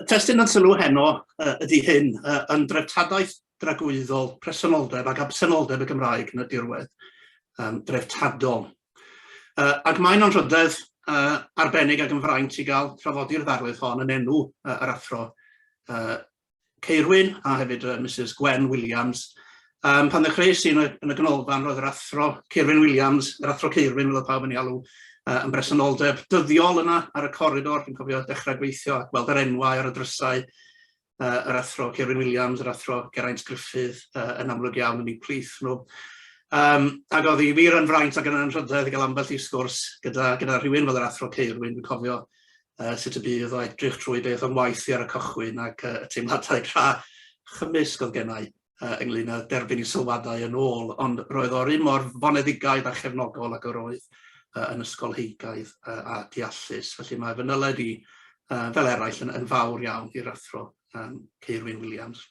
testyn yn sylw heno uh, ydy hyn, uh, yn dreftadaeth dragwyddol presenoldeb ac absenoldeb y Gymraeg yn y dirwedd um, dreftadol. Uh, ac mae'n anrhydedd uh, arbennig ac yn fraint i gael trafodi'r ddarlith hon yn enw uh, yr athro uh, Ceirwyn a hefyd yy Misus Gwen Williams. Yym pan ddechreuais i yn y yn y ganolfan roedd yr Athro Ceirwyn Williams, yr Athro Ceirwyn fel oedd pawb yn ei alw yy yn bresenoldeb dyddiol yna ar y coridor, dwi'n cofio dechrau gweithio a gweld yr enwau ar y drysau yy yr Athro Ceirwyn Williams, yr Athro Geraint Gruffydd yy yn amlwg iawn yn eu plith nhw. Yym ac oedd hi wir yn fraint ac yn anrhydedd i gael ambell i sgwrs gyda gyda rhywun fel yr Athro Ceirwyn, dwi'n cofio uh, sut y bydd o edrych trwy beth o'n waith i ar y cychwyn ac uh, y teimladau tra chymysg oedd gennau uh, ynglyn â derbyn i sylwadau yn ôl, ond roedd o'r un mor foneddigaidd a chefnogol ac yr oedd uh, yn ysgolheigaidd uh, a deallus. Felly mae fy nyled i, uh, fel eraill, yn, yn fawr iawn i'r athro um, Ceirwyn Williams.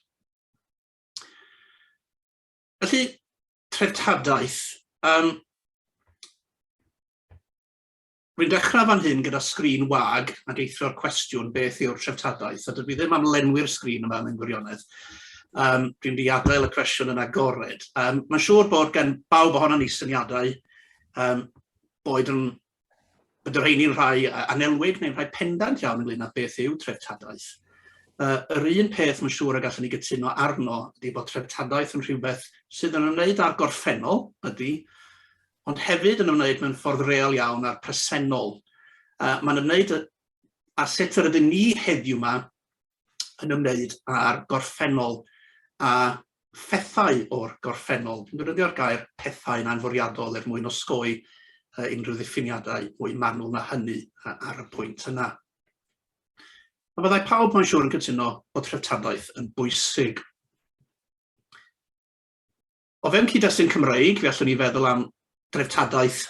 Felly, treftadaeth. Um, Rwy'n dechrau fan hyn gyda sgrin wag ac eithrio'r cwestiwn beth yw'r treftadaeth, a dydw i ddim am lenwi'r sgrin yma mewn gwirionedd. Um, dwi'n di adael y cwestiwn yn agored. Um, mae'n siŵr bod gen bawb ohono ni syniadau um, boed yn bod yr heini'n rhai anelwig neu'n rhai pendant iawn ynglyn â beth yw treftadaeth. Uh, yr un peth mae'n siŵr y gallwn ni gytuno arno ydy bod treftadaeth yn rhywbeth sydd yn ymwneud â'r gorffennol, ydy, ond hefyd yn ymwneud mewn ffordd real iawn â'r presennol. Uh, Mae'n ymwneud â sut yr ydym ni heddiw yma yn ymwneud â'r gorffennol a phethau o'r gorffennol. Dwi'n defnyddio'r gair pethau yn anfwriadol er mwyn osgoi uh, unrhyw ddiffiniadau mwy manwl na hynny uh, ar y pwynt yna. A byddai pawb mae'n siŵr yn cytuno bod treftadaeth yn bwysig O fewn cyd-destun Cymreig, fe allwn ni feddwl am dreftadaeth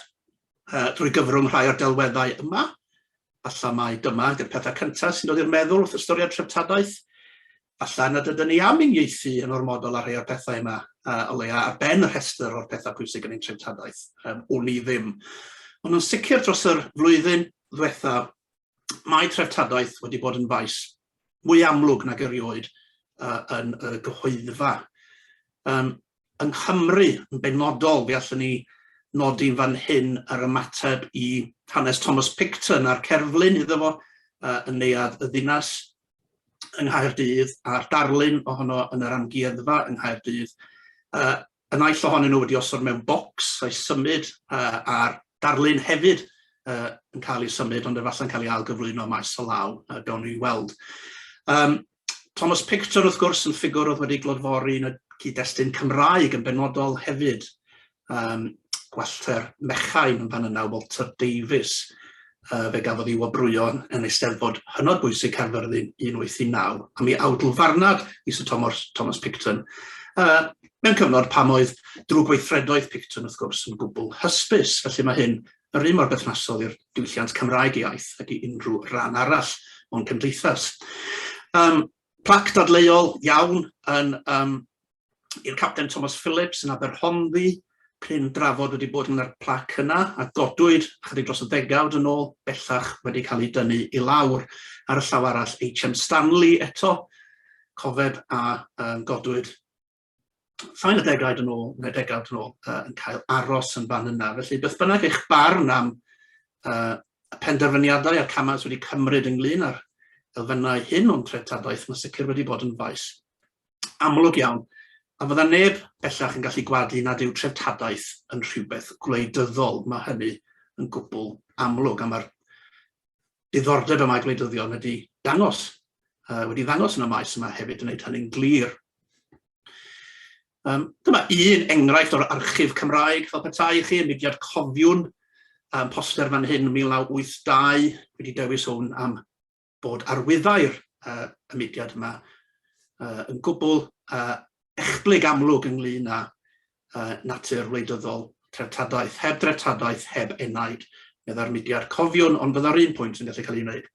uh, drwy gyfrwng rhai o'r delweddau yma. Alla mai dyma ydy'r pethau cyntaf sy'n dod i'r meddwl wrth ystyried treftadaeth. Alla nad ydyn ni am uniaethu yn ormodol ar rhai o'r pethau yma, uh, o leia ar ben y rhestr o'r pethau pwysig yn ein treftadaeth. Um, wn i ddim. Ond yn sicr dros yr flwyddyn ddiwetha, mae treftadaeth wedi bod yn faes mwy amlwg nag erioed uh, yn y gyhoeddfa. Um, yng Nghymru, yn benodol, fe allwn ni nodi'n fan hyn yr ymateb i hanes Thomas Picton a'r cerflun iddo fo uh, yn neuad y ddinas yng Nghaerdydd a'r darlun ohono yn yr amgueddfa yng Nghaerdydd. Uh, Y naill ohonyn nhw wedi osod mewn bocs a'i symud a'r darlun hefyd yn cael ei symud ond efallai'n cael ei ailgyflwyno maes o law, gawn ni weld. Thomas Picton wrth gwrs yn ffigwr oedd wedi glodfori yn y cyd-destun Cymraeg yn benodol hefyd, gwellter mechain yn fan yna, Walter Davies, uh, fe gafodd ei wobrwyo yn eisteddfod hynod bwysig Caerfyrddin 189, a mi awdl farnad i Sir Thomas, Thomas Picton, uh, mewn cyfnod pam oedd drwy gweithredoedd Picton wrth gwrs yn gwbl hysbys, felly mae hyn yr un mor berthnasol i'r diwylliant Cymraeg iaith ag i unrhyw ran arall o'n cymdeithas. Um, Plac dadleuol iawn yn um, i'r Capten Thomas Phillips yn Aberhonddu, cryn drafod wedi bod yn yr plac yna a godwyd chydig dros y ddegawd yn ôl bellach wedi cael ei dynnu i lawr ar y llaw arall HM Stanley eto cofeb a um, godwyd llai na degawd yn ôl, neu degawd yn ôl, uh, yn cael aros yn fan yna. Felly, beth bynnag eich barn am uh, y penderfyniadau a'r camau sydd wedi cymryd ynglyn â'r elfennau hyn o'n treftadaeth, mae sicr wedi bod yn faes amlwg iawn, a fydda neb bellach yn gallu gwadu nad yw treftadaeth yn rhywbeth gwleidyddol. Mae hynny yn gwbl amlwg, a mae'r diddordeb y mae gwleidyddion wedi dangos, uh, wedi ddangos yn y maes yma hefyd yn gwneud hynny'n glir. Um, dyma un enghraifft o'r archif Cymraeg fel petai i chi yn mudiad cofiwn um, poster fan hyn 1982 wedi dewis hwn am bod arwyddair uh, y mudiad yma uh, yn gwbl uh, echblyg amlwg ynglyn â uh, natur wleidyddol, treftadaeth, heb dreftadaeth, heb enaid, meddai'r mudiad. Cofiwn, ond byddai'r un pwynt yn gallu cael ei wneud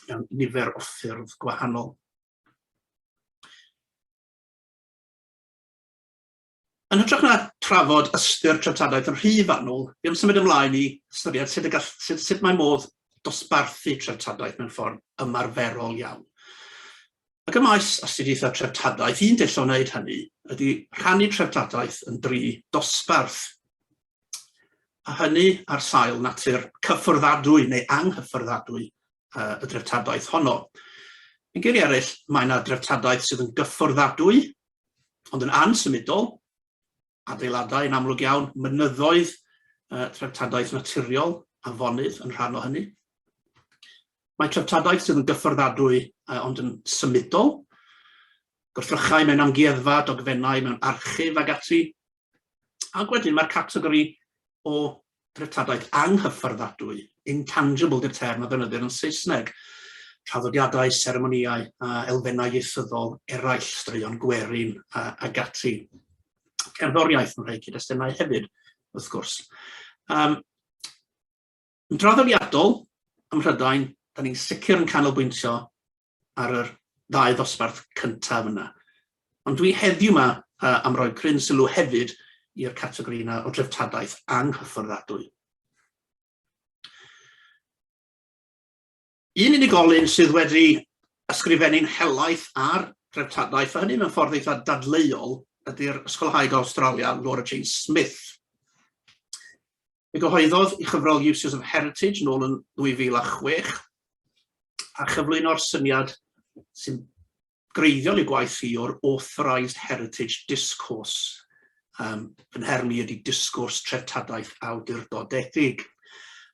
mewn nifer o ffyrdd gwahanol. Yn hytrach na trafod ystyr treftadaeth yn rhy fanwl, fi am symud ymlaen i ystyried sut, gall, sut, sut mae modd dosbarthu treftadaeth mewn ffordd ymarferol iawn. Ac ym maes astudiaethau treftadaeth, un dull o wneud hynny ydy rhannu treftadaeth yn dri dosbarth, a hynny ar sail natur cyfforddiadwy neu anghyfforddiadwy y dreftadaeth honno. Yn geiriau eraill, mae yna dreftadaeth sydd yn gyfforddiadwy, ond yn ansymudol, adeiladau yn amlwg iawn, mynyddoedd, yy treftadaeth naturiol, afonydd yn rhan o hynny. Mae treftadaeth sydd yn gyffordadwy uh, ond yn symudol, gwrthrychau mewn amgueddfa, dogfennau mewn archif ag ati, ac wedyn mae'r categori o treftadaeth anghyfforddadwy, intangible 'di'r term a ddefnyddir yn Saesneg, traddodiadau, seremonïau a elfennau ieithyddol eraill, straeon gwerin a, ag ati. Cerddoriaeth yn rhai cyd-destunau hefyd, wrth gwrs. Um, yn draddodiadol, ym Mhrydain, da ni'n sicr yn canolbwyntio ar yr ddau ddosbarth cyntaf yna. Ond dwi heddiw yma uh, am roi cryn sylw hefyd i'r categori yna o dreftadaeth anghyfforddiadwy. Un unigolyn sydd wedi ysgrifennu'n helaeth ar dreftadaeth, a hynny mewn ffordd eitha dadleuol, ydy'r ysgolhaig o Australia, Laura Jane Smith. Fe gyhoeddodd i chyfrol Uses of Heritage nôl yn 2006 a chyflwyno'r syniad sy'n greiddiol i gwaith i o'r authorised heritage discourse. Um, fy nherm i ydy disgwrs treftadaeth awdurdodedig.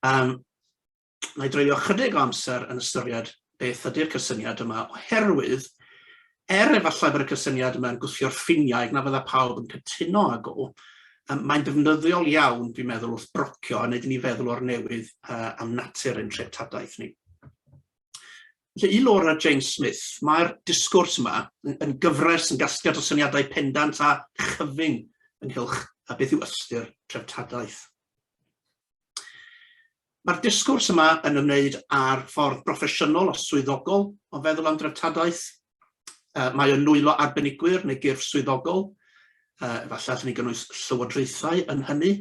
Um, na i dreulio chydig o amser yn ystyried beth ydy'r cysyniad yma, oherwydd er efallai bod y cysyniad yma'n gwthio'r ffiniau ac na fydda pawb yn cytuno ag o, um, mae'n defnyddiol iawn, dwi'n meddwl, wrth brocio a wneud i ni feddwl o'r newydd uh, am natur ein treftadaeth ni. Felly, i Laura James Smith, mae'r disgwrs yma yn gyfres yn gasgliad o syniadau pendant a chyfyng ynghylch a beth yw ystyr treftadaeth. Mae'r disgwrs yma yn ymwneud â'r ffordd broffesiynol a swyddogol o feddwl am dreftadaeth. Uh, mae o'n nwylo arbenigwyr neu gyrff swyddogol. Uh, efallai allwn ni gynnwys llywodraethau yn hynny.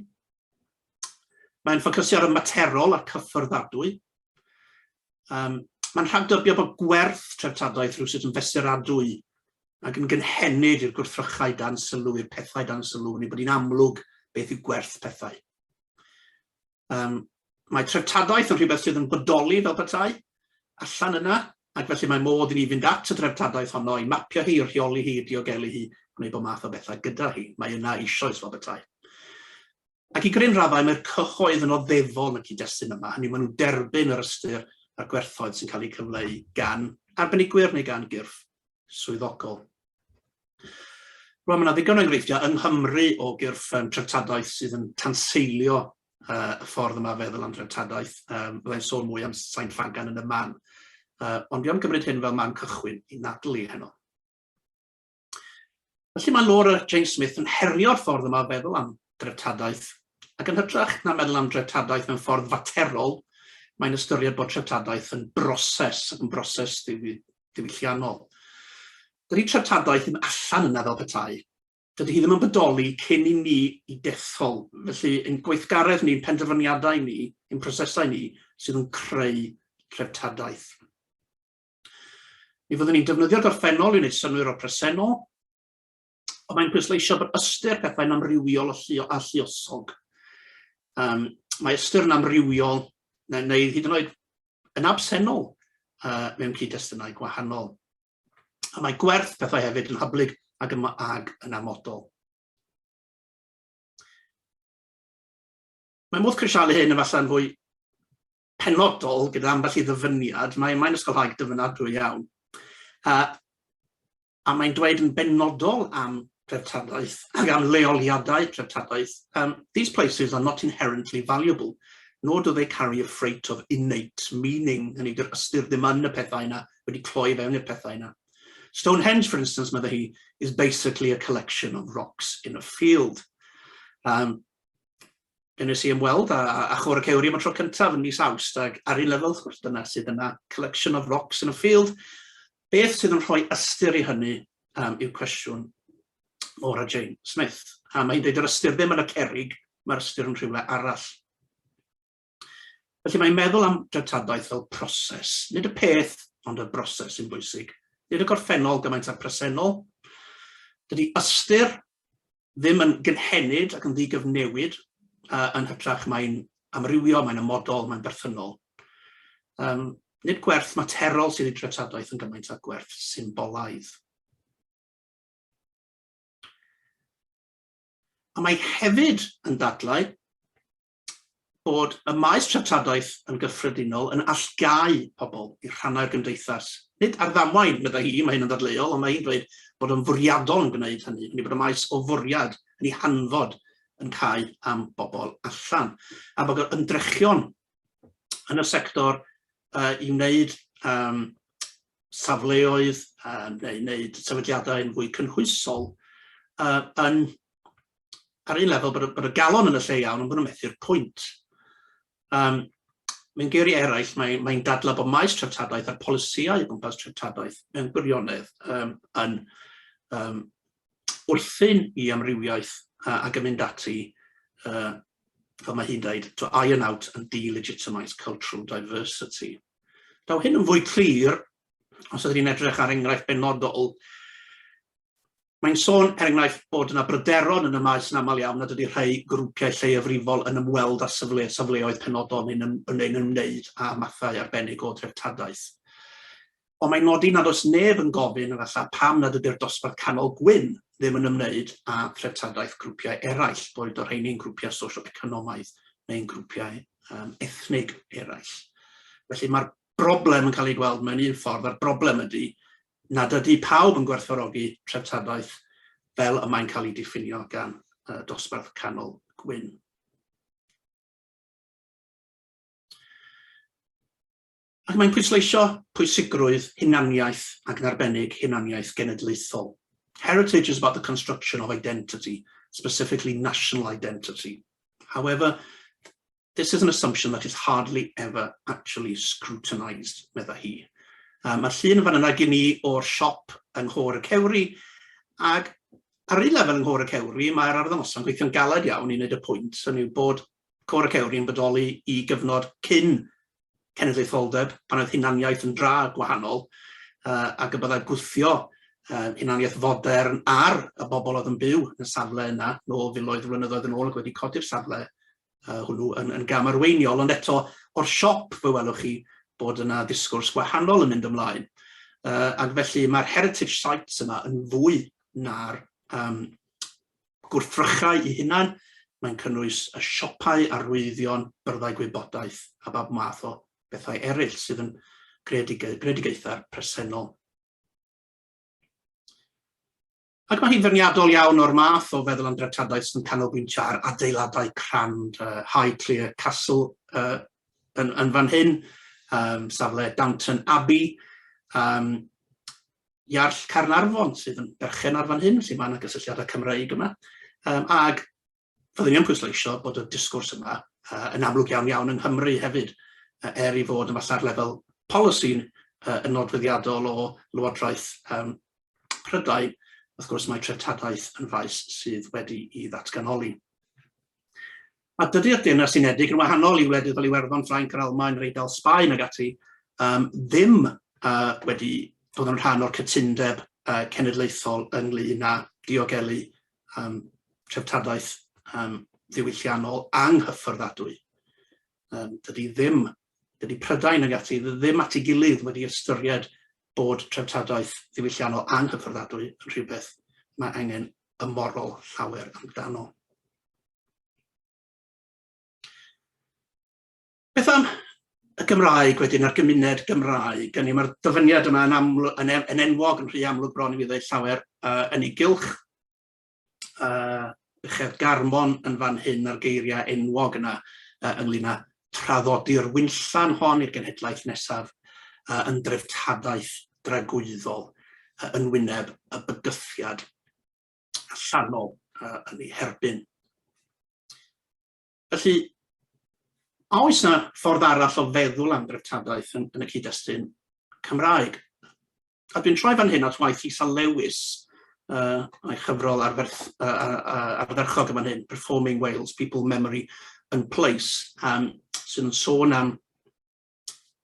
Mae'n ffocysu ar y materol a'r cyfforddiadwy. Um, Mae'n rhagdybio bod gwerth treftadaeth rhywsut yn fesuradwy ac yn gynhenid i'r gwrthrychau dan sylw, i'r pethau dan sylw, neu bod hi'n amlwg beth yw gwerth pethau. Um, mae treftadaeth yn rhywbeth sydd yn bodoli fel petai, allan yna, ac felly mae modd i ni fynd at y dreftadaeth honno, i mapio hi, i rheoli hi, i diogelu hi, gwneud bod math o bethau gyda hi. Mae yna eisoes fel bethau. Ac i gryn raddau mae'r cyhoedd yn oddefol yn y cyd-destun yma, hynny maen nhw'n derbyn yr ystyr a'r gwerthoedd sy'n cael eu cyfleu gan arbenigwyr neu gan gyrff swyddogol. Wel, mae yna ddigon o enghreifftiau yng Nghymru o gyrff um, treftadaeth sydd yn tanseilio uh, y ffordd yma feddwl am dreftadaeth. Um, Byddai'n sôn mwy am Sain Ffagan yn y man. Uh, ond fi am gymryd hyn fel man cychwyn i nadlu heno. Felly mae Laura Jane Smith yn herio'r ffordd yma feddwl am dreftadaeth, ac yn hytrach na meddwl am dreftadaeth mewn ffordd faterol, mae'n ystyried bod treftadaeth yn broses, yn broses ddiwy, diwylliannol. Dydi treftadaeth ddim allan yna fel petai. Dydi hi ddim yn bodoli cyn i ni i dethol, felly ein gweithgaredd ni, ein penderfyniadau ni, ein prosesau ni sydd yn creu treftadaeth. Mi fyddwn ni'n defnyddio gorffennol i wneud synwyr o presennol, Ond mae'n pwysleisio bod ystyr pethau'n amrywiol a lliosog. Um, mae ystyr yn amrywiol neu, neu hyd yn oed yn absennol uh, mewn cyd-destunau gwahanol. A mae gwerth pethau hefyd yn hyblyg ac yn, ag yn amodol. Mae modd crisialu hyn efallai'n fwy penodol gyda ambell i ddyfyniad, mae'n mae ysgolhaig dyfynadwy iawn. A a mae'n dweud yn benodol am dreftadaeth ac am leoliadau treftadaeth, um, these places are not inherently valuable, nor do they carry a freight of innate meaning, yn ei ystyr ddim yn y pethau yna, wedi cloi fewn i'r pethau yna. Stonehenge, for instance, meddai hi, is basically a collection of rocks in a field. Um, Fe nes i ymweld â, â Chwr y Cewri am y tro cyntaf yn mis Awst, ac ar un lefel, wrth gwrs, dyna sydd yna, collection of rocks in a field, Beth sydd yn rhoi ystyr i hynny um, yw cwestiwn Maura Jane Smith. A mae hi'n dweud yr ystyr ddim yn y cerig, mae'r ystyr yn rhywle arall. Felly mae'n meddwl am dreftadaeth fel proses. Nid y peth, ond y broses sy'n bwysig. Nid y gorffennol gymaint â'r presennol. Dydy ystyr ddim yn gynhenid ac yn ddigyfnewid, yy yn hytrach mae'n amrywio, mae'n ymodol, mae'n berthynol. Um, nid gwerth materol sydd i dreftadaeth yn gymaint â gwerth symbolaidd. A mae hefyd yn dadlau bod y maes treftadaeth yn gyffredinol yn allgáu pobl i'r rhannau'r gymdeithas. Nid ar ddamwain, meddai hi, mae hyn yn ddadleuol, ond mae hi'n dweud bod yn fwriadol yn gwneud hynny, hynny bod y maes o fwriad yn ei hanfod yn cau am bobl allan, a bod yr ymdrechion yn y sector uh, i wneud um, safleoedd uh, neu wneud sefydliadau yn fwy cynhwysol uh, yn ar un lefel bod y, bod y galon yn y lle iawn ond bod nhw'n methu'r pwynt. Um, mewn geiriau eraill, mae'n mae, mae dadlau bod maes treftadaeth a'r polisïau o gwmpas treftadaeth mewn gwirionedd um, yn um, wrthyn i amrywiaeth uh, ac yn mynd ati, uh, fel mae hi'n dweud, to iron out and delegitimise cultural diversity. Daw hyn yn fwy clir os ydyn ni'n edrych ar enghraifft benodol Mae'n sôn, er enghraifft, bod yna bryderon yn y maes yn aml iawn nad ydy rhai grwpiau lleiafrifol yn ymweld â safle, safleoedd penodol neu'n ym, neu'n ymwneud â mathau arbennig o dreftadaeth. Ond mae'n nodi nad oes neb yn gofyn efallai pam nad ydy'r dosbarth canol gwyn ddim yn ymwneud â threftadaeth grwpiau eraill, boed o rheini'n grwpiau sosio-economaidd neu'n grwpiau um, ethnig eraill. Felly mae'r broblem yn cael ei gweld mewn un ffordd, a'r broblem ydy nad ydy pawb yn gwerthfawrogi treftadaeth fel y mae'n cael ei diffinio gan y dosbarth canol gwyn. Ac mae'n pwysleisio pwysigrwydd hunaniaeth ac yn arbennig hunaniaeth genedlaethol. Heritage is about the construction of identity, specifically national identity. However, This is an assumption that is hardly ever actually scrutinised, medda hi. Um, Mae'r llun yn fan yna gen i o'r siop yng Nghôr y Cewri, ac ar un lefel yng Nghôr y Cewri, mae'r arddangosau'n gweithio'n galed iawn i wneud y pwynt, hynny yw bod Côr y Cewri yn bodoli i gyfnod cyn cenedlaetholdeb, pan oedd hunaniaeth yn dra gwahanol, uh, ac y byddai gwthio uh, hunaniaeth fodern ar y bobl oedd yn byw yn y safle yna, nôl filoedd o flynyddoedd yn ôl ac wedi codi'r safle uh, hwnnw yn, yn gam arweiniol, ond eto o'r siop fe welwch chi bod yna ddisgwrs gwahanol yn mynd ymlaen. Uh, ac felly mae'r heritage sites yma yn fwy na'r um, gwrthrychau i hunan, mae'n cynnwys y siopau arwyddion, byrddau gwybodaeth a bab math o bethau eraill sydd yn greadigaethau presennol. Ac mae hi'n feirniadol iawn o'r math o feddwl am dreftadaeth sy'n canolbwyntio ar adeiladau crand, uh, Highclere Castle uh, yn, yn fan hyn, um, safle Downton Abbey, um, Iarll Carnarfon sydd yn berchen ar fan hyn, sy'n mae yna gysylltiadau Cymreig yma, um, ag Fyddwn i yn pwysleisio bod y disgwrs yma uh, yn amlwg iawn iawn yng Nghymru hefyd, uh, er i fod yn falla'r lefel polisi'n uh, yn nodweddiadol o Lywodraeth um, Prydain, wrth gwrs mae treftadaeth yn faes sydd wedi i ddatganoli. A dydy'r Deyrnas Unedig yn wahanol i wledydd fel Iwerddon, Ffrainc, yr Almaen, yr Eidal, Sbaen ag ati, um, ddim uh, wedi bod yn rhan o'r cytundeb uh, cenedlaethol ynglyn â diogelu um, treftadaeth um, ddiwylliannol anghyffyrddadwy. Um, dydy ddim, dydy Prydain ag ati ddim at ei gilydd wedi ystyried bod treftadaeth ddiwylliannol anghyffyrddadwy yn rhywbeth mae angen ymorol llawer amdano. Beth am y Gymraeg wedyn a'r gymuned Gymraeg? Hynny yw, mae'r dyfyniad yma yn, aml, yn, e, yn enwog yn rhy amlwg bron i mi ddweud llawer uh, yn ei gylch. Uh, uchedd Garmon yn fan hyn a'r geiriau enwog yna uh, ynglyn â traddodi'r wynllan hon i'r genhedlaeth nesaf uh, yn dreftadaeth dragwyddol uh, yn wyneb y bygythiad allanol uh, yn ei herbyn. Felly, a oes yna ffordd arall o feddwl am dreftadaeth yn, yn y cyd-destun Cymraeg? A dwi'n troi fan hyn at waith Isa Lewis, uh, a'i chyfrol arferth, uh, uh, ardderchog yma'n hyn, Performing Wales, People, Memory and Place, um, sy'n sôn am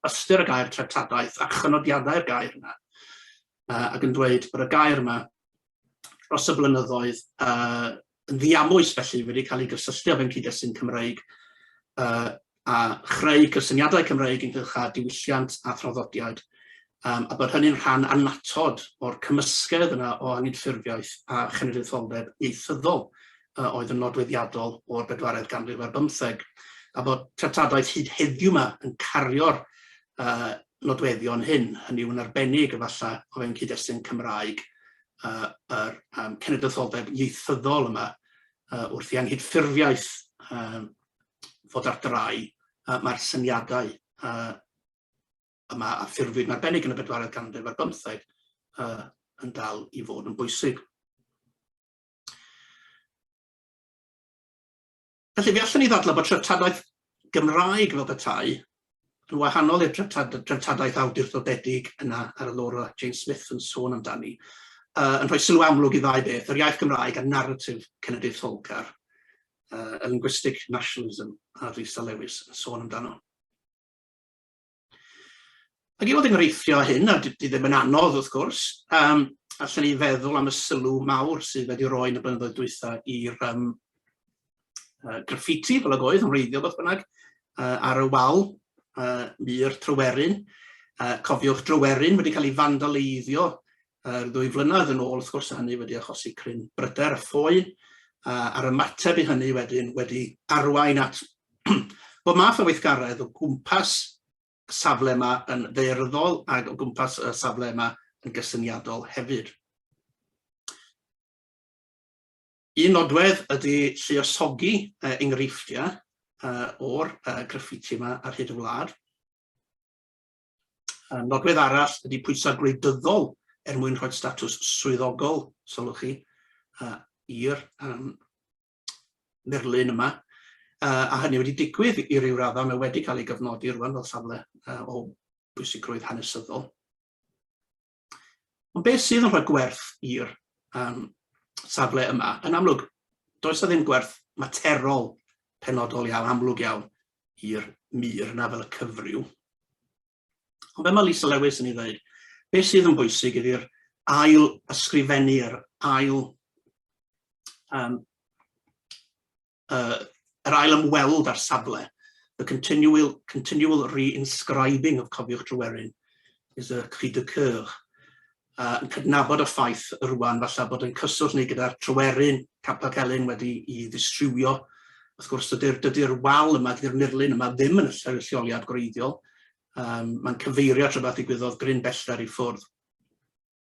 ystyr y gair treftadaeth a chynodiadau'r gair yna, uh, ac yn dweud bod y gair yma dros y blynyddoedd uh, yn ddiamwys felly wedi cael ei gysylltu â fe'n cyd-destun Cymreig uh, a chreu cysyniadau Cymreig ynghylch â diwylliant a throddodiad um, a bod hynny'n rhan annatod o'r cymysgedd yna o anghydffurfiaeth a chenedlaetholdeb ieithyddol uh, oedd yn nodweddiadol o'r bedwaredd ganrif ar bymtheg, a bod treftadaeth hyd heddiw yma yn cario'r uh, nodweddion hyn, hynny yw'n arbennig efallai o fewn cyd-destun Cymraeg uh, yr um, cenedlaetholdeb ieithyddol yma uh, wrth i anghydffurfiaeth um, fod ar drai, uh, mae'r syniadau uh, yma a ffurfwyd yn arbennig yn y bedwaredd ganrif ar bymtheg uh, yn dal i fod yn bwysig. Felly, fe allwn ni ddadlau bod treftadaeth Gymraeg fel petai yn wahanol i'r treftadaeth awdurdodedig yna ar y Laura Jane Smith yn sôn amdani, uh, yn rhoi sylw amlwg i ddau beth, yr iaith Gymraeg a narratif cenedlaetholgar, uh, y linguistic nationalism a Risa Lewis yn sôn amdano. Ac i fod yn gyfreithio â hyn, a di ddim yn anodd wrth gwrs, um, allan ni feddwl am y sylw mawr sydd wedi roi yn y blynyddoedd dwytha i'r um, uh, graffiti, fel ag oedd, yn reiddiol beth bynnag, uh, ar y wal, uh, mur Tryweryn. Uh, cofiwch Dryweryn wedi cael ei fandaleiddio yr ddwy flynedd yn ôl wrth gwrs a hynny wedi achosi cryn bryder a ffoi a, a'r ymateb i hynny wedyn wedi arwain at bod math o weithgaredd o gwmpas y safle yma yn ddeirddol ac o gwmpas y safle yma yn gysyniadol hefyd. Un nodwedd ydy lluosogi uh, enghreifftiau uh, o'r uh, graffiti yma ar hyd y wlad. Nodwedd arall ydy pwysa gwleidyddol er mwyn rhoi statws swyddogol, sylwch chi, i'r murlun yma, a hynny wedi digwydd i ryw radda, mae wedi cael ei gyfnodi rwan fel safle o bwysigrwydd hanesyddol. Ond beth sydd yn rhoi gwerth i'r um, safle yma? Yn amlwg, does ddim gwerth materol penodol iawn, amlwg iawn, i'r mur na fel y cyfryw. Ond fe mae Lisa Lewis yn ei ddweud, beth sydd yn bwysig ydy'r ail ysgrifennu, yr ail um, uh, yr ail ymweld â'r safle, the continual, continual reinscribing of Cofiwch Tryweryn is a cri de coeur, uh, yn cydnabod y ffaith rwan falle bod yn cyswllt neu gyda'r Tryweryn, Capel Celyn wedi i ddistrywio. Wrth gwrs, dydy'r dydy wal yma, dydy'r murlun yma ddim yn y lleoliad gwreiddiol. Um, Mae'n cyfeirio at rhywbeth ddigwyddodd gryn bellter i ffwrdd.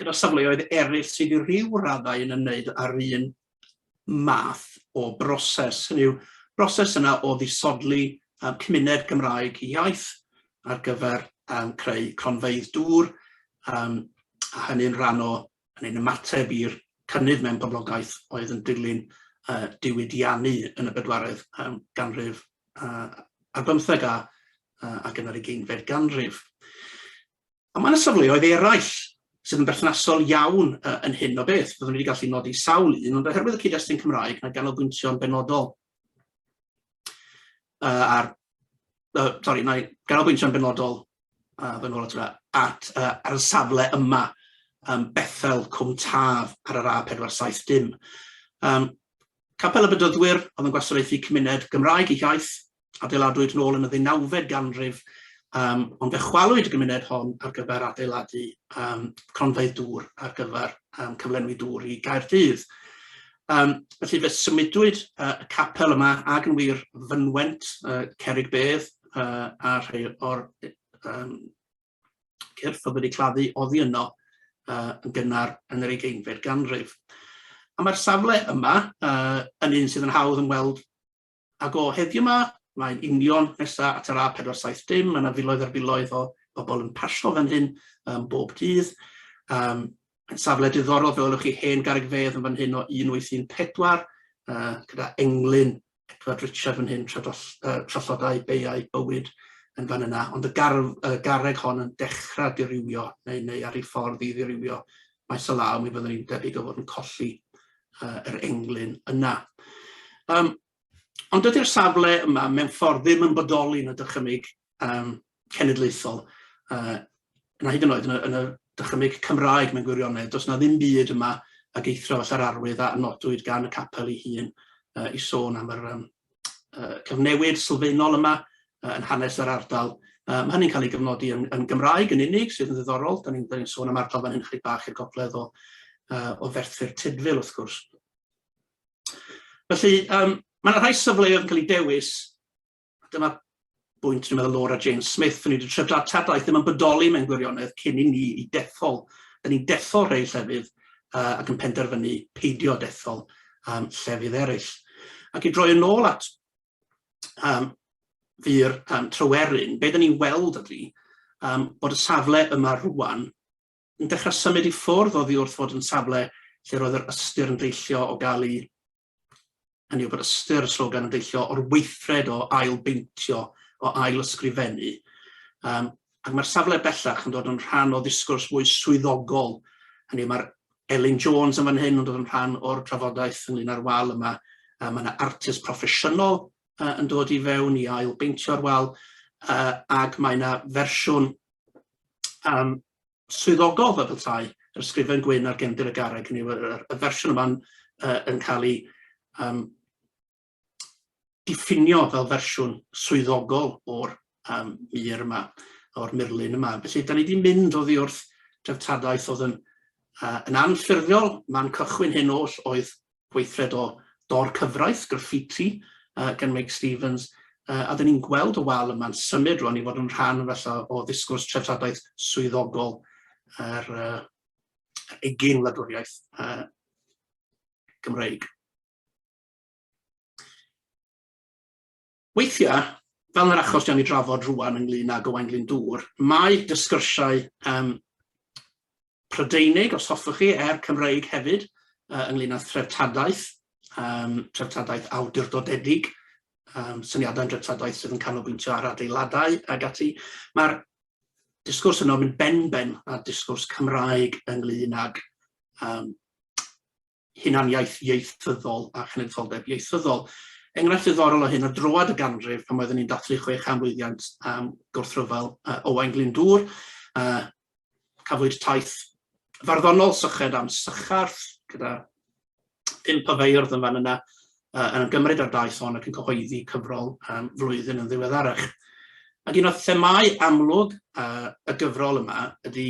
gyda safleoedd eraill sydd i ryw raddau yn ymwneud â'r un math o broses, hynny yw broses yna o ddisodli um, cymuned Gymraeg iaith ar gyfer um, creu cronfeydd dŵr, um, a hynny'n rhan o yn ein ymateb i'r cynnydd mewn poblogaeth oedd yn dilyn uh, diwydiannu yn y bedwaredd um, ganrif uh, ar bymtheg a, uh, ac yn yr ugeinfed ganrif. Ond mae yna safleoedd eraill sydd yn berthnasol iawn yn hyn o beth. Byddwn wedi gallu nodi sawl un, ond oherwydd y cyd-destun Cymraeg, mae ganolbwyntio'n benodol uh, ar... Uh, sorry, mae ganolbwyntio'n benodol uh, fy nôl at, at uh, ar y safle yma, um, Bethel Cwm Taf ar yr A470 dim. Um, Capel y Bydyddwyr oedd yn gwasanaethu cymuned Gymraeg ei hiaith adeiladwyd nôl yn y ddeunawfed ganrif, um, ond fe chwalwyd y gymuned hon ar gyfer adeiladu um, cronfeydd dŵr ar gyfer um, cyflenwi dŵr i Gaerdydd. Um, felly fe symudwyd uh, y capel yma ag yn wir fynwent uh, cerig bedd uh, a rhai o'r um, cyrff oedd wedi claddu oddi yno uh, yn gynnar yn yr ugeinfed ganrif. A mae'r safle yma uh, yn un sydd yn hawdd yn weld Ac o heddiw 'ma, mae'n union nesa at yr A470, ma' 'na filoedd ar filoedd o bobol yn pasio fan hyn yym bob dydd. Yym mae'n safle diddorol, fe welwch chi hen garreg fedd yn fan hyn o 1814, yy gyda englyn Edward Richard fan hyn, tradoll- yy trallodai beiau bywyd yn fan yna, ond y garw- y garreg hon yn dechra dirywio neu neu ar ei ffordd i ddirywio maes o law, mi fyddwn ni'n debyg o fod yn colli uh, yr englyn yna. Um, ond dydy'r safle yma mewn ffordd ddim yn bodoli yn y dychymyg um, cenedlaethol, uh, na hyd yn oed yn y, yn y dychymyg Cymraeg mewn gwirionedd. Does na ddim byd yma a geithro falla'r arwydd a nodwyd gan y capel ei hun uh, i sôn am yr um, uh, cyfnewid sylfaenol yma uh, yn hanes yr ardal. Uh, mae hynny'n cael ei gyfnodi yn, yn Gymraeg yn unig, sydd yn ddiddorol. Da ni'n ni sôn am ardal fan hyn chydig bach i'r gogledd o, uh, o ferthyr Tydfil, wrth gwrs. Felly, um, mae yna rhai safleoedd yn cael ei dewis. Dyma bwynt dwi'n meddwl Laura James Smith, o'n i wedi trio dartadaeth ddim yn bodoli mewn gwirionedd cyn i ni i dethol. Da ni'n dethol rhai llefydd uh, ac yn penderfynu peidio dethol um, llefydd eraill. Ac i droi yn ôl at um, fyr um, tryweryn, be da ni'n weld ydy um, bod y safle yma rwan yn dechrau symud i ffwrdd o ddi wrth fod yn safle lle roedd yr ystyr yn deillio o gael ei hynny yw bod ystyr y slogan yn deillio o'r weithred o ail beintio, o ail ysgrifennu. Um, ac mae'r safle bellach yn dod yn rhan o ddisgwrs mwy swyddogol. Hynny yw, mae'r Elin Jones yn fan hyn yn dod yn rhan o'r trafodaeth ynglyn â'r wal yma. Um, mae yna artist proffesiynol uh, yn dod i fewn i ail beintio'r wal, uh, ac mae yna fersiwn um, swyddogol fel petai yr ysgrifen gwyn ar gefndir y garreg, hynny yw y, y, y fersiwn yma'n uh, yn cael ei um, diffinio fel fersiwn swyddogol o'r um, mir yma, o'r murlun yma. Felly, da ni wedi mynd o ddi wrth dreftadaeth oedd yn, uh, yn anffurfiol, man cychwyn hyn oll oedd gweithred o dor cyfraith, graffiti, gan Meic Stevens, a dyn ni'n gweld y wal yma'n symud rwan i fod yn rhan falla o ddisgwrs treftadaeth swyddogol yr egin wladwriaeth Gymreig. Weithiau, fel yn yr achos dwi am ei drafod rŵan ynglŷn ag Owain Glyndŵr, mae sgyrsiau yym Prydeinig, os hoffwch chi, er Cymreig hefyd, yy ynglŷn â threftadaeth, yym treftadaeth awdurdodedig, yym syniadau'n dreftadaeth sydd yn canolbwyntio ar adeiladau ag ati. Mae'r disgwrs yno yn mynd benben â'r disgwrs Cymraeg ynglŷn ag yym hunaniaeth ieithyddol a chenedlitholdeb ieithyddol. Enghraifft ddiddorol o hyn o droad y ganrif pan oeddwn ni'n dathlu chwe chan blwyddiant um, gwrthryfel uh, Owain Glyndŵr. Uh, cafwyd taith farddonol syched am sycharth gyda pum o feirdd yn fan yna uh, yn gymryd ar daith hon ac yn cyhoeddi cyfrol um, flwyddyn yn ddiweddarach. Ac un o'r themau amlwg uh, y gyfrol yma ydy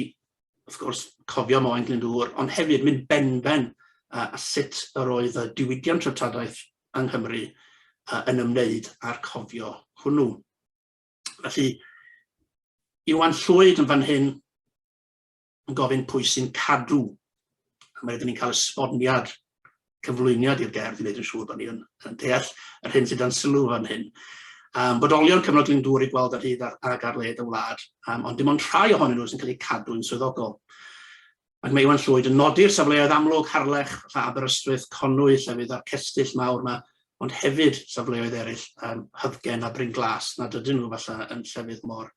wrth gwrs, cofio Moen Glyndŵr, ond hefyd mynd benben a, a sut yr oedd y diwydiant treftadaeth yng Nghymru a, yn ymwneud â'r cofio hwnnw. Felly, Iwan Llwyd yn fan hyn yn gofyn pwy sy'n cadw. A mae rydyn ni'n cael esboniad cyflwyniad i'r gerdd i wneud yn siŵr bod ni yn, yn deall yr hyn sydd dan sylw fan hyn. Um, bodolion cyfnod Glyndŵr i gweld ar hyd ar, ag ar led y wlad, um, ond dim ond rhai ohonyn nhw sy'n cael eu cadw'n swyddogol. Mae Meiwan Llwyd yn nodi'r safleoedd amlwg, Harlech, Lla Aberystwyth, Conwy, llefydd a'r cestyll mawr yma, ond hefyd safleoedd eraill, um, Hyddgen a Bryn Glas, nad ydyn nhw falle yn llefydd mor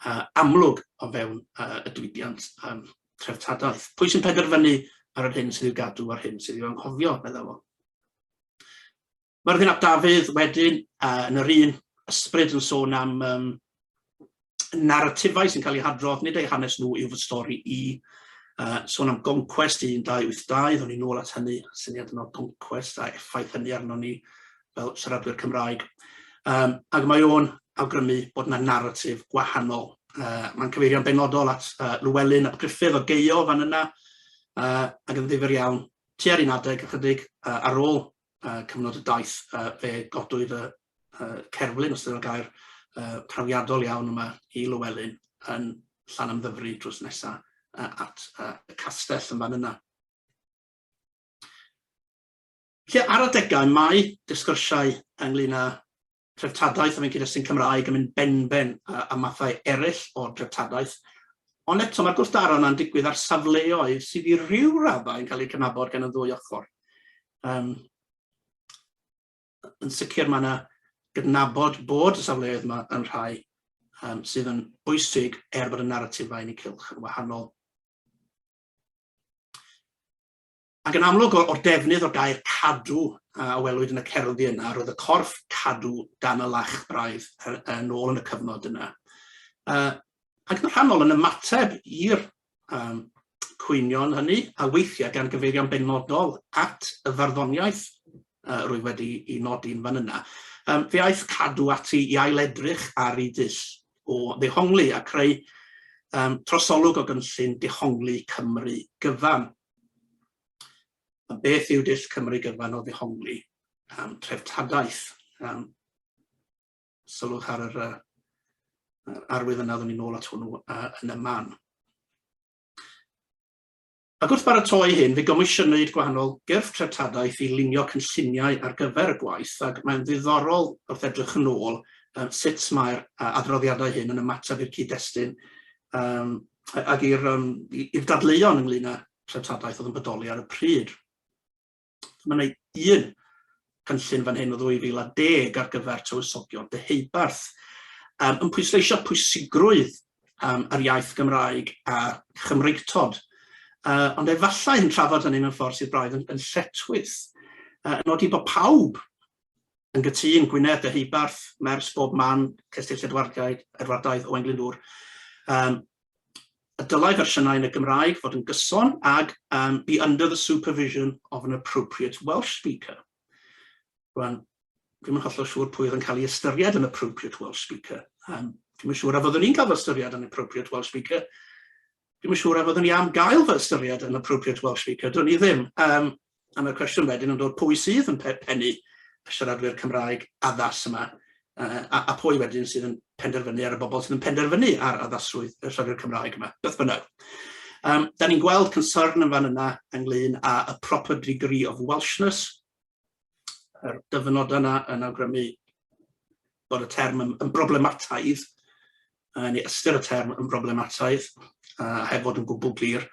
uh, amlwg o fewn uh, y diwydiant um, treftadaeth. Pwy sy'n penderfynu ar yr hyn sydd i'w gadw a'r hyn sydd i'w anghofio, meddai fo. Mae'r ddenab Dafydd wedyn uh, yn yr un ysbryd yn sôn am um, narratifau sy'n cael eu hadrodd, nid eu hanes nhw yw fy stori i. Uh, sôn am Gonquest 1282, ddwn ni'n ôl at hynny, syniad yno Gonquest a effaith hynny arno ni. fel siaradwyr Cymraeg. Um, ac mae o'n awgrymu bod yna naratif gwahanol. Uh, Mae'n cyfeirio'n benodol at uh, Llewellyn ap Griffith o geio fan yna, uh, ac yn ddifur iawn, tua'r un adeg ychydig uh, ar ôl uh, cyfnod y daith, uh, fe godwyd y uh, cerflun, os ydy'n gair, uh, trawiadol iawn yma i Llewellyn yn llan am ddyfru drws nesaf uh, at uh, y castell yn fan yna. Felly, ar adegau, mae disgyrsiau ynglŷn â threftadaeth a fi'n cyd-destun Cymraeg yn mynd benben â mathau eraill o dreftadaeth, ond eto mae'r gwrthdaro yna'n digwydd ar safleoedd sydd i ryw raddau yn cael eu cydnabod gan y ddwy ochr. Um, yn sicr mae yna gydnabod bod y safleoedd yma yn rhai um, sydd yn bwysig er bod y naratifau yn y cylch yn wahanol. Ac yn amlwg o'r defnydd o'r gair 'cadw' a welwyd yn y cerddi yna, roedd y corff cadw dan y lach braidd yn ôl yn y cyfnod yna. Ac yn rhannol yn ymateb i'r cwynion hynny, a weithiau gan gyfeirio'n benodol at y farddoniaeth roedd wedi ei nodi'n fan yna, fe aeth cadw ati i ail-edrych ar ei dull o ddehongli a creu trosolwg o gynllun dehongli Cymru gyfan. A beth yw dull Cymru gyfan o ddehongli um, treftadaeth? Um, sylwch ar yr uh, arwydd yna, ddwn i'n ôl at hwnnw uh, yn y man. Ac wrth baratoi hyn, fe gomisiynwyd gwahanol gyrff treftadaeth i lunio cynlluniau ar gyfer y gwaith ac mae'n ddiddorol wrth edrych yn ôl um, sut mae'r uh, adroddiadau hyn yn ymateb i'r cyd-destun um, ag i'r um, i'r dadleuon ynglyn â'r treftadaeth oedd yn bodoli ar y pryd. Mae yna un cynllun fan hyn o 2010 ar gyfer tywysogion dyheubarth um, yn pwysleisio pwysigrwydd um, yr iaith Gymraeg a Chymreictod. Uh, ond efallai yn trafod hynny mewn ffordd sydd braidd yn, yn lletwys, uh, yn nodi bod pawb yn gytûn, Gwynedd, Deheubarth, Mers, bob man, Cestyll Edwardiaid, Edwardaidd, Owain Glyndŵr. Um, y dylai fersiynau yn y Gymraeg fod yn gyson ag um, be under the supervision of an appropriate Welsh speaker. Rwan, dwi'n yn hollol siŵr pwy oedd yn cael ei ystyried yn appropriate Welsh speaker. Um, dwi'n yn siŵr a fyddwn ni'n cael fy ystyried yn appropriate Welsh speaker. Dwi'n yn siŵr a fyddwn ni am gael fy ystyried yn appropriate Welsh speaker. Dwi'n ni ddim. Um, A mae'r cwestiwn wedyn yn dod pwy sydd yn pennu y siaradwyr Cymraeg addas yma, uh, a, a pwy wedyn sydd yn penderfynu ar y bobl sydd yn penderfynu ar addasrwydd y siaradwyr Cymraeg yma, beth bynnag. Um, da ni'n gweld concern yn fan yna ynglyn â y proper degree of Welshness, yr dyfynod yna yn awgrymu bod y term yn, yn broblemataidd, neu ystyr y term yn broblemataidd, a heb fod yn gwbl glir.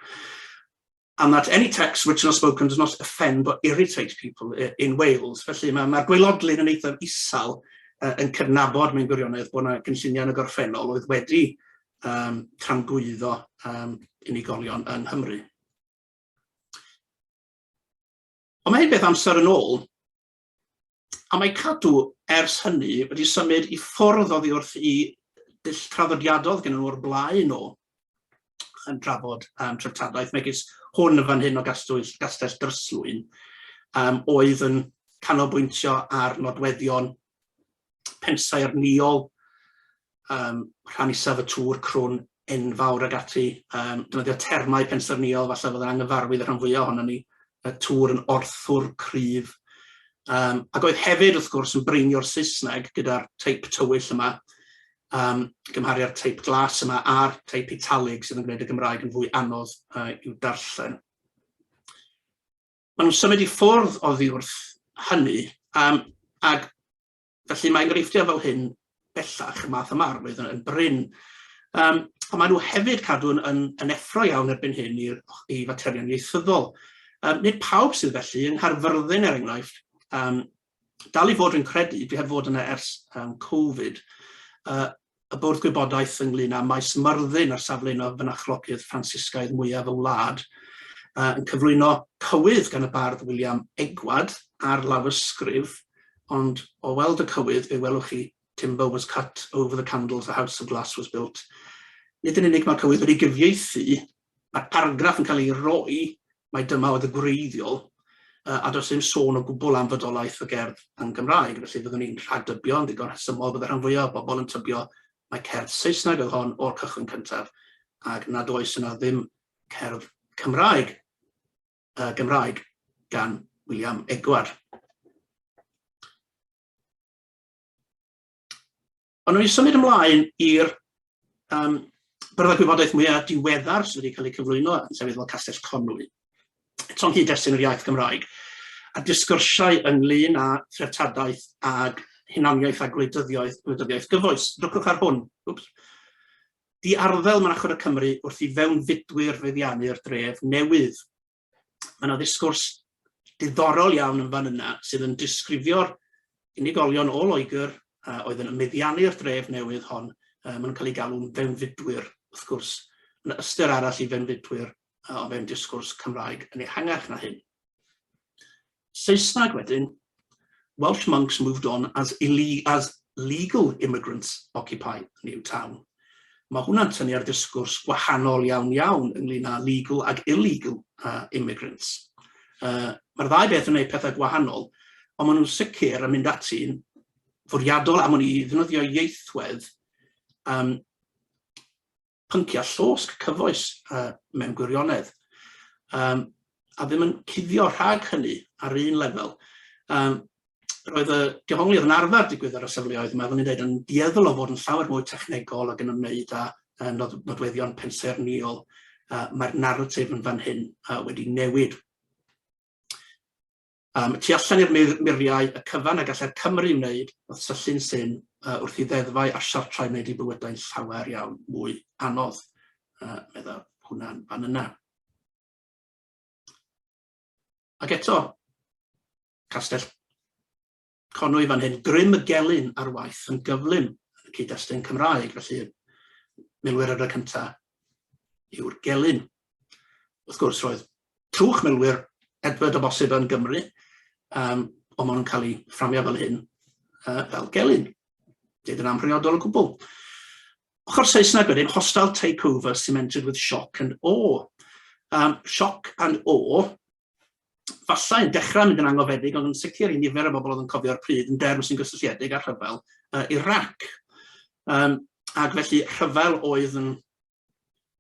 and that any text written or spoken does not offend or irritate people i- in Wales. Felly ma' ma'r gwaelodlin yn eithaf isal yy yn cydnabod mewn gwirionedd bo' 'na gynlluniau yn y gorffennol oedd wedi yym tramgwyddo yym unigolion yng Nghymru. Ond ma' hyn beth amser yn ôl, A mae Cadw, ers hynny, wedi symud i ffwrdd oddi wrth i dull traddodiadol oedd gennyn nhw o'r blaen o yn trafod um, treftadaeth, megis hwn yn fan hyn o Gastell, Gastell Dryslwyn, um, oedd yn canolbwyntio ar nodweddion pensau arniol um, rhan isaf y tŵr crwn enfawr ag ati. Um, Dynoddio termau pensyrniol, falle fod yn anghyfarwydd y rhan fwyaf ohono ni, y tŵr yn orthwr cryf. Um, ac oedd hefyd, wrth gwrs, yn breinio'r Saesneg gyda'r teip tywyll yma, um, gymharu â'r teip glas yma a'r teip italig sydd yn gwneud y Gymraeg yn fwy anodd uh, i'w darllen. Maen nhw'n symud i ffwrdd oddi wrth hynny, um, ac Felly mae enghreifftiau fel hyn bellach y math yma arwydd yn, yn brin. Um, ond maen nhw hefyd cadw yn, yn, yn effro iawn erbyn hyn i, i faterion ieithyddol. Um, nid pawb sydd felly yng Nghaerfyrddin er enghraifft, um, dal i fod yn credu, dwi heb fod yna ers um, Covid, uh, y Bwrdd Gwybodaeth ynglŷn â Maes Myrddin ar safle un o fynachlogydd Ffransisgaidd mwyaf y wlad, uh, yn cyflwyno cywydd gan y bardd William Egward ar lawysgrif, ond o weld y cywydd fe welwch chi Timber was cut over the candles, the house of glass was built. Nid yn unig mae'r cywydd wedi gyfieithu Mae'r argraff yn cael ei roi mai dyma oedd y gwreiddiol, a does dim sôn o gwbl am fodolaeth y gerdd yn Gymraeg, felly fyddwn ni'n rhagdybio yn ddigon rhesymol bod y rhan fwyaf o bobl yn tybio mai cerdd Saesneg oedd hon o'r cychwyn cyntaf, ac nad oes yna ddim cerdd Cymraeg, uh, Gymraeg gan William Edward. Ond nhw'n symud ymlaen i'r um, byrddau gwybodaeth mwyaf diweddar sydd wedi cael eu cyflwyno yn sefyll fel Castell Conwy. Eto'n hyd destun yr iaith Gymraeg, a disgyrsiau ynglyn â threftadaeth ag hunaniaeth a gwleidyddiaeth, gwleidyddiaeth gyfoes. Dwcwch ar hwn. Wps. Di arddel Mynachod y Cymru wrth i fewnfudwyr feddiannu'r dref newydd. Mae yna ddisgwrs diddorol iawn yn fan yna sydd yn disgrifio'r unigolion o Loegr a oedd yn meddiannu'r dref newydd hon. Mae nhw'n cael eu galw'n fewnfudwyr, wrth gwrs. Mae yna ystyr arall i fewnfudwyr o fewn disgwrs Cymraeg yn ehangach na hyn. Saesneg wedyn, Welsh monks moved on as as legal immigrants occupy a new town. Mae hwnna'n tynnu ar ddisgwrs gwahanol iawn iawn ynglyn â legal ag illegal uh, immigrants. Uh, Mae'r ddau beth yn gwneud pethau gwahanol, ond maen nhw'n sicr yn mynd ati'n fwriadol am hwn i ddefnyddio ieithwedd um, pynciau llosg cyfoes yy mewn gwirionedd, um, a ddim yn cuddio rhag hynny ar un lefel. Um, roedd y dehongliad yn arfer digwydd ar y safleoedd yma, fyddwn i'n dweud, yn dieddol o fod yn llawer mwy technegol ac yn ymwneud â uh, nod, nodweddion pensaernïol. Uh, Mae'r naratif yn fan hyn uh, wedi newid. Yym, tu allan i'r mur, muriau, y cyfan a gallai'r Cymry wneud wrth syllu'n syn yy wrth i ddeddfau a siartrau wneud ein bywydau'n llawer iawn mwy anodd, yy, medda hwnna'n fan yna. Ac eto, castell Connwy fan hyn, grym y gelyn ar waith yn gyflym yn y cyd-destun Cymraeg, felly milwyr yr y cyntaf yw'r gelyn. Wrth gwrs, roedd trwch milwyr Edward o bosib yn Gymru, um, ond maen nhw'n cael eu fframio fel hyn, uh, fel gelyn. Dyd yn amhriodol o gwbl. Ochr Saesneg wedyn, hostile takeover cemented with shock and awe. Um, shock and awe, falle yn dechrau mynd yn angofiedig, ond yn sicr i nifer o bobl oedd yn cofio'r pryd yn derm sy'n gysylltiedig â'r rhyfel uh, Iraq. Um, ac felly rhyfel oedd yn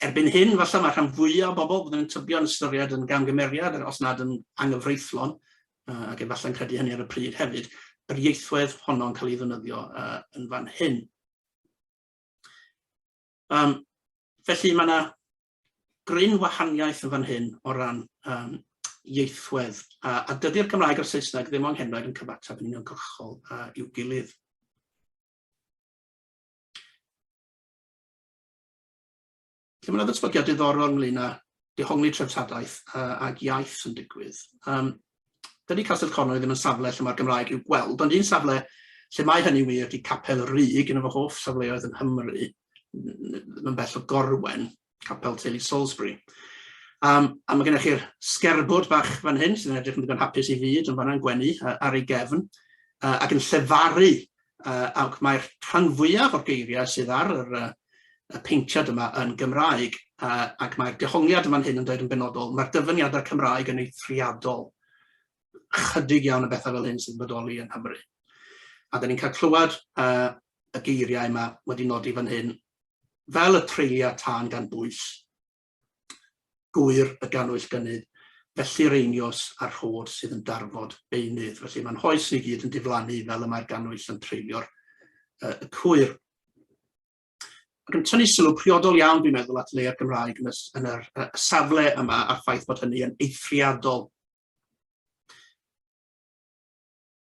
erbyn hyn, falle mae rhan fwyaf o bobl byddwn yn tybio'n ystyried yn gamgymeriad, os nad yn angyfreithlon, uh, ac efallai'n credu hynny ar y pryd hefyd, yr ieithwedd honno'n cael ei ddynyddio uh, yn fan hyn. Um, felly mae yna gryn wahaniaeth yn fan hyn o ran um, ieithwedd, a, a dydy'r Gymraeg a'r Saesneg ddim o'n henoed yn cyfateb yn uniongyrchol uh, i'w gilydd. Lle mae yna ddatblygiad diddorol ynglyn â dehongli treftadaeth uh, ag iaith yn digwydd. Um, dydy Castell Conwy ddim yn safle lle mae'r Gymraeg i'w gweld, ond un safle lle mae hynny wir ydy Capel y Rug, un o fy hoff safleoedd yn Nghymru, yn bell o Gorwen, Capel Teulu Salisbury. Um, a mae gennych chi'r sgerbwd bach fan hyn, sy'n edrych yn ddigon hapus i fyd, yn fanna'n gwenu ar ei gefn, uh, ac yn llefaru yy ac mae'r rhan fwyaf o'r geiriau sydd ar yr yy y paentiad yma yn Gymraeg, a ac mae'r dehongliad yn fan hyn yn dweud yn benodol, mae'r dyfyniadau Cymraeg yn eithriadol. Chydig iawn o bethau fel hyn sy'n bodoli yn Nghymru. A da ni'n cael clywed uh, y geiriau yma wedi nodi fan hyn, fel y treuliau tân gan bwys, gŵyr y gannwyll gynnydd, felly'r einios a'r rhod sydd yn darfod beunydd. Felly mae'n hoes ni gyd yn diflannu fel y mae'r gannwyll yn treulio'r uh, y cwyr. Ac yn tynnu sylw priodol iawn, dwi'n meddwl, at leia'r Gymraeg yn y, yn yr, y safle yma a'r ffaith bod hynny yn eithriadol.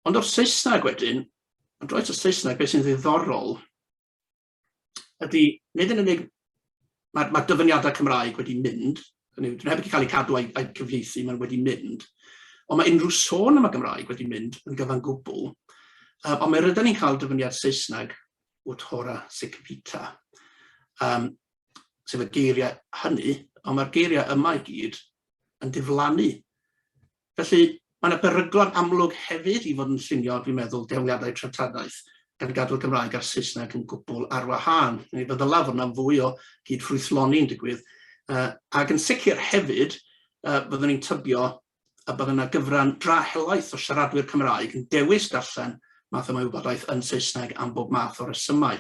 Ond o'r Saesneg wedyn, ond roed y Saesneg, beth sy'n ddiddorol ydy, nid yn unig, mae, mae dyfyniadau Cymraeg wedi mynd, hynny yw, heb wedi cael eu cadw a'i, a'i cyfleusu, mae'n wedi mynd, ond mae unrhyw sôn am y Gymraeg wedi mynd yn gyfan gwbl, um, ond mae rydyn ni'n cael dyfyniad Saesneg o Tora Sicipita, um, sef y geiriau hynny, ond mae'r geiriau yma i gyd yn diflannu Felly, mae yna beryglon amlwg hefyd i fod yn llunio, dwi'n meddwl, dehongliadau treftadaeth, gan gadw'r Gymraeg a'r Saesneg yn gwbl ar wahân. Fe ddylai fod yna fwy o gyd-ffrwythloni'n digwydd, uh, ac yn sicr hefyd, uh, byddwn ni'n tybio y bydd yna gyfran dra helaeth o siaradwyr Cymraeg yn dewis darllen math yma wybodaeth yn Saesneg am bob math o resymau.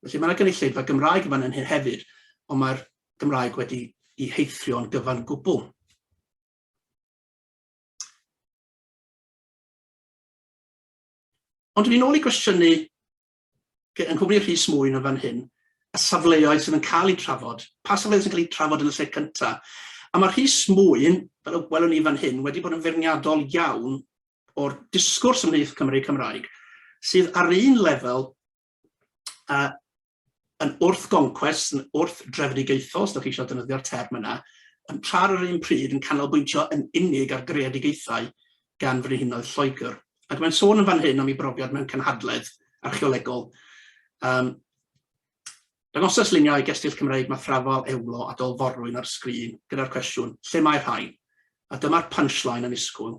Felly mae yna gynulleidfa Gymraeg yma yn hyn hefyd, ond mae'r Gymraeg wedi i heithrio'n gyfan gwbl. Ond yn ôl i gwestiynu yng nghwmni Rhys mwy na fan hyn, y safleoedd sydd yn cael eu trafod, pa safleoedd sy'n cael eu trafod yn y lle cynta. A mae Rhys Mwyn, fel y welwn ni fan hyn, wedi bod yn feirniadol iawn o'r disgwrs ymhlith Cymry Cymraeg, sydd ar un lefel uh, yn wrth-goncwest, yn wrth-drefedigaethol, os da chi eisiau defnyddio'r term yna, yn tra'r yr un pryd yn canolbwyntio yn unig ar greadigaethau gan frenhinoedd Lloegr. Ac mae'n sôn yn fan hyn am ei brofiad mewn cynhadledd archeolegol. Um, Dangosas luniau gestyll Cymreig mathrafol, ewlo a dolforwyn ar y sgrin gyda'r cwestiwn, lle mae'r rhain? a dyma'r punchline annisgwyl,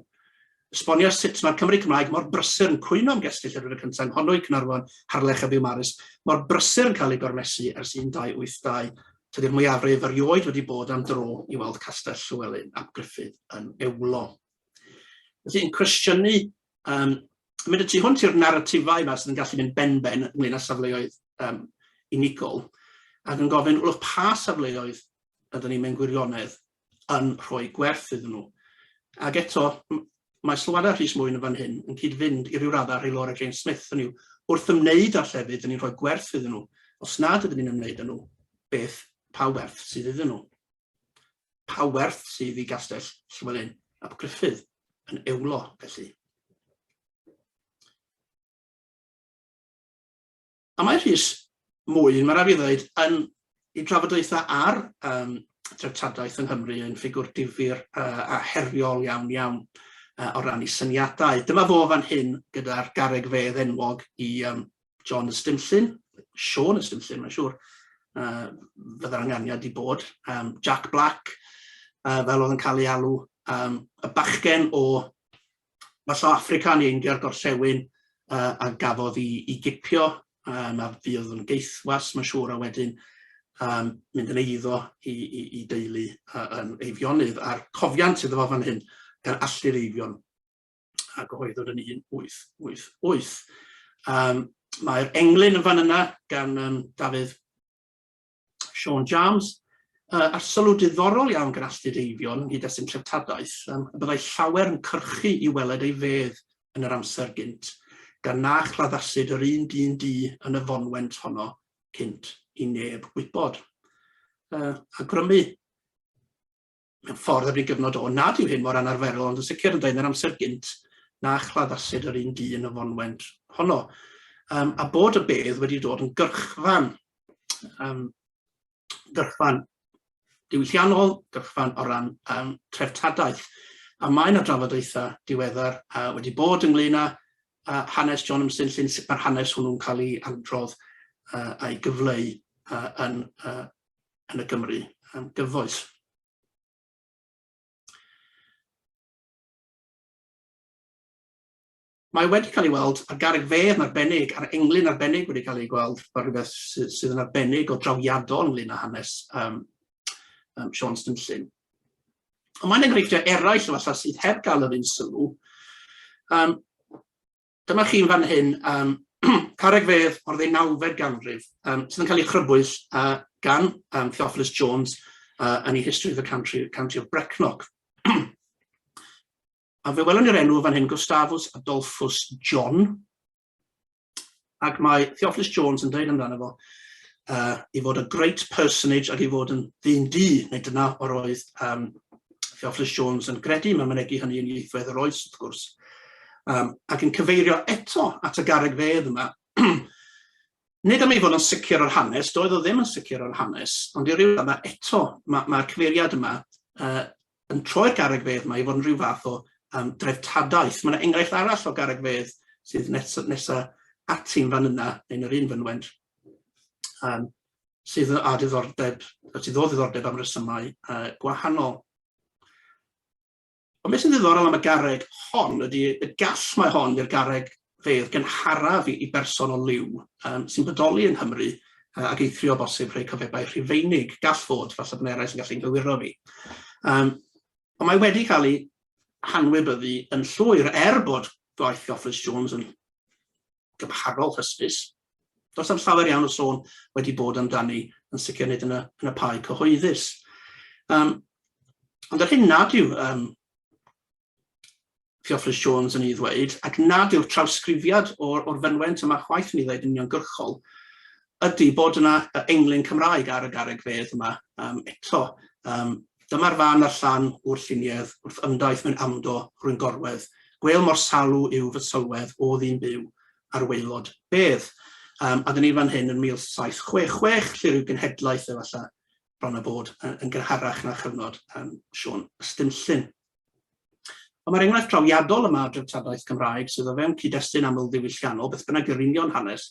esbonio sut mae'r Cymry Cymraeg mor brysur yn cwyno am gestyll ar yr y cyntaf yng Nghonwy, Caernarfon, Harlech a Biwmaris, mor brysur yn cael eu gormesu ers 1282. Tydi'r mwyafrif erioed wedi bod am dro i weld Castell Llywelyn ap Gruffydd yn Beulo. Felly, yn cwestiynu, um, mynd y tu hwnt i'r naratifau yma sydd yn gallu mynd ben-ben ynglyn â safleoedd um, unigol, ac yn gofyn, wrth pa safleoedd ydyn ni'n mynd gwirionedd yn rhoi gwerth iddyn nhw. Ac eto, mae sylwadau Rhys Mwyn yn fan hyn yn cyd-fynd i ryw raddau rhai Laura Jane Smith, hynny yw, wrth ymwneud â'r llefydd, dyn ni'n rhoi gwerth iddyn nhw. Os nad ydyn ni'n ymwneud â nhw, beth, pa werth sydd iddyn nhw? Pa werth sydd i Gastell Llywelyn ap Gruffudd yn eulo, felly? A mae Rhys Mwyn, mae'n rhaid i fi ddweud, yn i drafodaethau ar um, treftadaeth yng Nghymru yn ffigwr difyr uh, a heriol iawn iawn uh, o ran i syniadau. Dyma fo fan hyn gyda'r gareg fedd enwog i um, John Ystumllyn, Sean Ystumllyn, mae'n siŵr, uh, fydda'r anganiad i bod, um, Jack Black, uh, fel oedd yn cael ei alw, um, y bachgen o Mae Sou Affrica yn ein diar gorllewin uh, a gafodd i, i gipio, um, a fi oedd yn geithwas, mae'n siŵr, a wedyn um, mynd yn eiddo i, i, i deulu uh, yn eifionydd, a'r cofiant iddo fo fan hyn, gan allu'r eifion a gyhoeddwyd yn 1888. Um, Mae'r englyn yn fan yna gan um, Dafydd Siôn Jams, uh, a'r sylw diddorol iawn gan astud eifion ynghyd â sy'n treftadaeth, um, y byddai llawer yn cyrchu i weled ei fedd yn yr amser gynt, gan na chladdasid yr un dyn du yn y fonwent honno cynt i neb wybod. Uh, a grymu mewn ffordd ar ei gyfnod o, nad yw hyn mor anarferol, ond yn sicr yn dweud yn yr amser gynt na chladdasid yr un dyn y fonwent honno, um, a bod y bedd wedi dod yn gyrchfan, um, gyrchfan diwylliannol, gyrchfan o ran um, treftadaeth. A mae yna drafodaethau diweddar uh, wedi bod ynglyn â uh, hanes John Ymsyn llyn sut mae'r hanes hwnnw'n cael ei androdd uh, a'i gyfleu uh, yn uh, yn y Gymru am gyfoes. Mae wedi cael ei weld ar garreg fedd yn arbennig, a'r englyn arbennig wedi cael ei gweld, fel rhywbeth sydd, sydd yn arbennig o drawiadol ynglyn â hanes um, um, Sean Stinllin. Ond mae'n enghreifftiau eraill o falla sydd heb gael yr un sylw. Um, Dyma chi yn fan hyn yym carreg fedd o'r ddeunawfed ganrif yym sydd yn cael ei chrybwyll yy gan yym Theophilus Jones yy yn ei History of the Country, County of Brecknock. A fe welwn ni'r enw fan hyn, Gustavus Adolphus John, ac mae Theophilus Jones yn dweud amdano fo uh, i fod a great personage ac i fod yn ddyn du, neu dyna o'r oedd um, Theophilus Jones yn gredu mewn mynegi hynny yn ieithwedd yr oes, wrth gwrs, um, ac yn cyfeirio eto at y garreg fedd yma. Nid am ei fod yn sicr o'r hanes, doedd o ddim yn sicr o'r hanes, ond i ryw yma eto, mae'r ma, cyfeiriad yma uh, yn troi'r garreg fedd yma i fod yn rhyw fath o um, dreftadaeth. Mae'n enghraifft arall o garreg fedd sydd nesaf nes ati'n fan yna, yn yr un fynwent, um, sydd â diddordeb, sydd o ddiddordeb am resymau uh, gwahanol. Ond beth sy'n ddiddorol am y garreg hon ydy y gall mae hon i'r garreg fedd gynharaf i, i berson o liw um, sy'n bodoli yn Nghymru uh, ac eithrio bosib rhai cyfebau rhifeinig gall fod, falle bod eraill yn gallu'n gywiro fi. Um, ond mae wedi cael ei hanwybyddu yn llwyr er bod gwaith Office Jones yn gymharol hysbys. Does am llawer iawn o sôn wedi bod amdani, yn sicr nid yn y, yn y pae cyhoeddus. Um, ond yr hyn nad yw um, Theophilus Jones yn ei ddweud, ac nad yw'r trawsgrifiad o'r, or fynwent yma chwaith yn ei ddweud yn uniongyrchol, Ydy, bod yna englyn Cymraeg ar y garreg fedd yma, am eto. Yym, dyma'r fan a'r llan o'r lluniedd, wrth ymdaith mewn amdo rhwyn gorwedd, gwêl mor salw yw fy sylwedd o ddyn byw ar waelod bedd. Yym, a dyn ni fan hyn yn 1766, lle ryw genhedlaeth efallai, bron a bod, yn gynharach na chyfnod yym Siôn y Stumllyn. Ond mae'r enghraifft drawiadol yma o dreftadaeth Cymraeg sydd o fewn cyd-destun amlddiwylliannol, beth bynnag yw'r union hanes,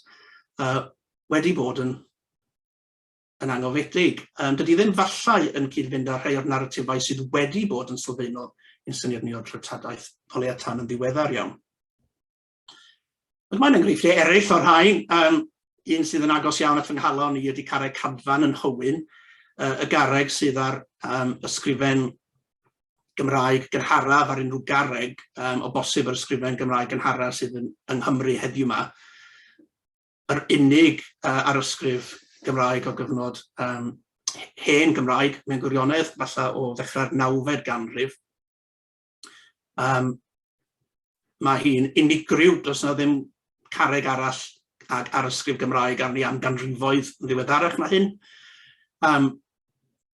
uh, wedi bod yn yn angofedig. Um, dydy ddim fallai yn cyd-fynd â rhai o'r naratifau sydd wedi bod yn sylfaenol yn syniad ni o'r treftadaeth o leia tan yn ddiweddar iawn. Ond mae'n enghreifftiau eraill o'r rhain, um, un sydd yn agos iawn at fy nghalon i ydy carreg cadfan yn Hywyn, uh, y garreg sydd ar um, ysgrifen Gymraeg gynharaf ar unrhyw garreg um, o bosib yr ysgrifen Gymraeg gynharaf sydd yn, yng Nghymru heddiw yma, yr unig uh, ar ysgrif Gymraeg o gyfnod um, hen Gymraeg mewn gwirionedd, falle o ddechrau'r nawfed ganrif. Um, mae hi'n unigryw, does yna ddim carreg arall ag ar ysgrif Gymraeg arni am ganrifoedd yn ddiweddarach na hyn. Um,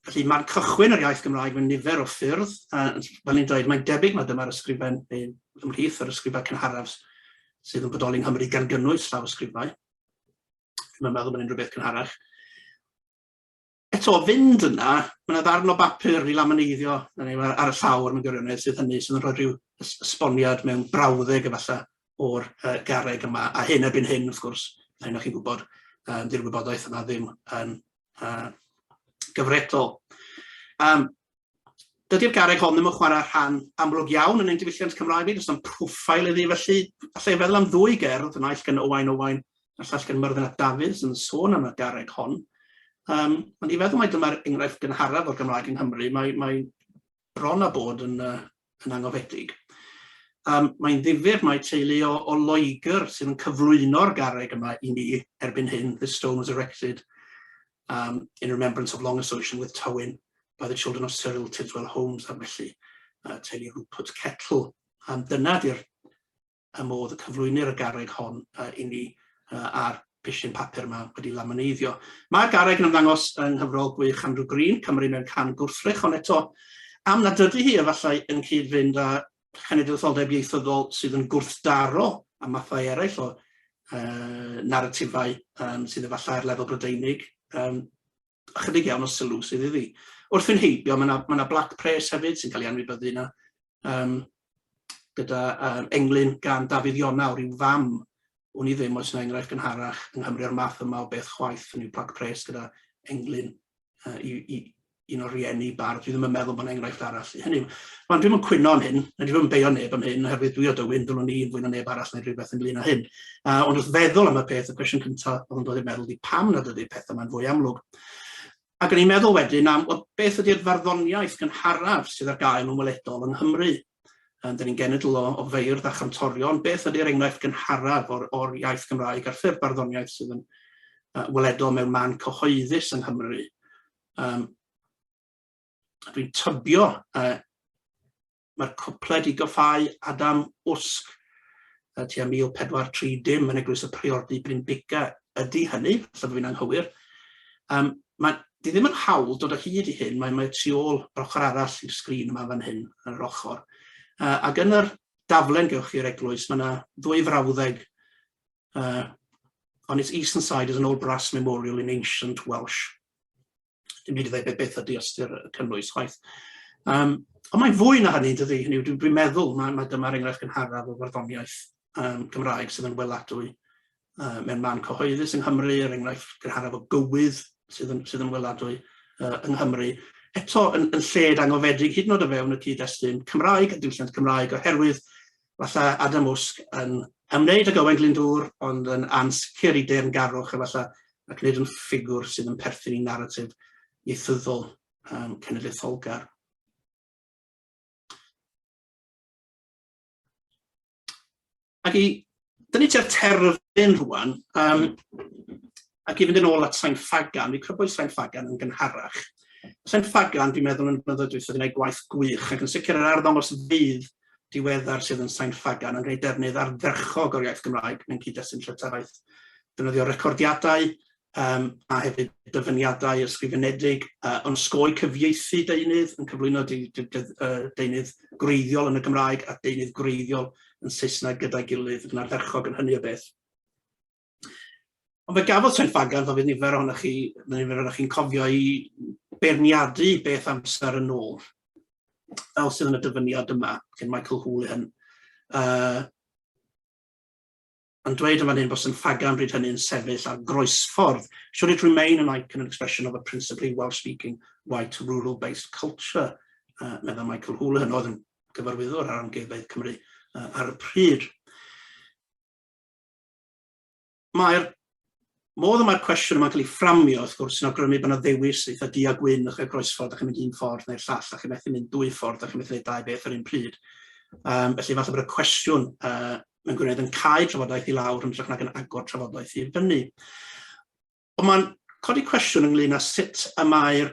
felly mae'n cychwyn yr iaith Gymraeg mewn nifer o ffyrdd, a fel ni'n dweud, mae'n debyg mae dyma'r ysgrifen neu ymhlith yr ysgrifau cynharaf sydd yn bodoli yng Nghymru gan gynnwys llaw ysgrifau. Mae'n meddwl bod unrhyw beth cynharach. eto o fynd yna ma' 'na ddarn o bapur i laminaiddio na ni ar y llawr mewn gwirionedd sydd hynny sydd yn rhoi rhyw ys- ysboniad mewn brawddeg efalla o'r yy garreg yma a hyn erbyn hyn wrth gwrs a hyn o chi'n gwybod yym 'di'r wybodaeth yma ddim yn yy gyfredol. Yym. Dydy'r garreg hon ddim yn chwarae rhan amlwg iawn yn ein diwylliant Cymraeg ni, does na'm profile iddi felly allai feddwl am ddwy gerdd, y naill gan Owain Owain a'r llall gan Myrddin ap Dafydd sy'n sôn am y garreg hon. Um, ond i feddwl mai dyma'r enghraifft gynharaf o'r Gymraeg yng Nghymru, mae, mae bron a bod yn uh, yn angofiedig. Um, mae'n ddifyr mae teulu o, o Loegr sydd yn cyflwyno'r garreg yma i ni erbyn hyn. This stone was erected um, in remembrance of long association with Tywyn by the children of Cyril Tidswell Holmes a felly uh, teulu Rupert Kettle. Um, dyna di'r y modd y cyflwynir y garreg hon uh, i ni uh, ar pishin papur yma wedi lamaneiddio. Mae'r garreg yn ymddangos yng nghyfrol gwych Andrew Green, Cymru mewn can gwrthrych, ond eto am nad ydy hi efallai yn cyd-fynd â chenedlaetholdeb ieithyddol sydd yn gwrthdaro a mathau eraill o uh, naratifau um, sydd efallai ar lefel brydeinig. Um, ychydig iawn o sylw sydd iddi. Wrth fynd heibio, mae yna ma na blac pres hefyd sy'n cael ei anwybyddu yna, um, gyda um, englyn gan Dafydd Iona o ryw fam wn i ddim oes yna enghraifft yn harach yng Nghymru o'r math yma o beth chwaith yn yw plac pres gyda englyn uh, i, i, un o'r rieni bardd. Dwi ddim yn meddwl bod enghraifft arall. Hynny yw, mae'n dwi'n yn cwyno am hyn, na dwi'n yn beio neb am hyn, oherwydd dwi o dywyn, ddylwn ni yn fwy na neb arall neu rhywbeth ynglyn â hyn. Uh, ond wrth feddwl am y peth, y cwestiwn cyntaf oedd yn dod i'r meddwl di pam nad ydy'r pethau yma'n fwy amlwg. Ac yn ei meddwl wedyn am well, beth ydy'r farddoniaeth gynharaf sydd ar gael yn weledol yng Nghymru. Um, da ni'n genedl o, o feirdd a chantorion. Beth ydy'r enghraifft gynharaf o'r, or iaith Gymraeg a'r ffurf barddoniaeth sydd yn uh, weledol mewn man cyhoeddus yng Nghymru? Um, dwi'n tybio uh, mae'r cwpla wedi goffáu Adam Usg y tua 1430 yn Eglwys y Priordy Brynbuga ydy hynny, falle bod fi'n anghywir. Um, mae, di ddim yn hawl dod o hyd i hyn, mae, mae tu ôl yr ochr arall i'r sgrin yma fan hyn, yn yr ochr. Uh, ac yn yr daflen gewch chi'r eglwys, mae yna ddwy frawddeg uh, on its eastern side is an old brass memorial in ancient Welsh. Dim byd i ddweud beth ydy ystyr y cynnwys chwaith. Um, ond mae'n fwy na hynny, dydy. Hynny dwi'n dwi meddwl, mae, mae dyma'r enghraifft gynharaf o farddoniaeth um, Cymraeg sydd yn weladwy uh, mewn man cyhoeddus yng Nghymru, yr er enghraifft gynharaf o gywydd sydd yn, sydd yn weladwy uh, yng Nghymru. Eto, yn, yn lled angofedig, hyd yn oed o fewn y cyd-destun Cymraeg a diwylliant Cymraeg, oherwydd falla Adam Wsg yn ymwneud ag Owain Glyndŵr ond yn ansicr i deyrngarwch efalla ac nid yn ffigwr sydd yn perthyn i naratif ieithyddol um, cenedlaetholgar. Ac i dynnu tua'r terfyn rwan, um, ac i fynd yn ôl at Sain Ffagan, fi crybwyll Sain Ffagan yn gynharach. Sain Ffagan, fi'n meddwl yn blynyddoedd dweud wedi gwneud gwaith gwych, ac yn sicr yr arddangos fydd diweddar sydd yn Sain Ffagan yn gwneud defnydd ardderchog o'r iaith Gymraeg mewn cyd-destun llytaraeth. Defnyddio recordiadau um, a hefyd dyfyniadau ysgrifenedig, uh, ond sgoi cyfieithu deunydd yn cyflwyno de, de, de, uh, deunydd gwreiddiol yn y Gymraeg a deunydd gwreiddiol yn Saesneg gyda'i gilydd yn ardderchog yn hynny o beth. Ond fe gafodd Treffagan, fel fydd nifer ohonoch chi, mae nifer ohonoch chi'n cofio i beirniadu beth amser yn ôl, fel sydd yn y dyfyniad yma, gen Michael Houlihan. Uh, yn dweud yn fan hyn bod St Fagan bryd hynny'n sefyll ar groesffordd, should it remain an icon and expression of a principally Welsh-speaking white rural-based culture, uh, meddwl Michael Houlihan, oedd yn gyfarwyddwr ar amgueddfeydd Cymru uh, ar y pryd. Mae'r modd y mae'r cwestiwn yma'n cael ei fframio, wrth gwrs, sy'n awgrymu bod yna ddewis eitha du a gwyn, o'ch chi'n croesffordd, a chi'n mynd un ffordd neu'r llall, a chi'n methu mynd dwy ffordd, a chi'n methu gwneud dau beth ar un pryd. Um, felly falle bod y cwestiwn uh, mewn gwirionedd yn cael trafodaeth i lawr yn hytrach nag yn agor trafodaeth i fyny. Ond mae'n codi cwestiwn ynglyn â sut y mae'r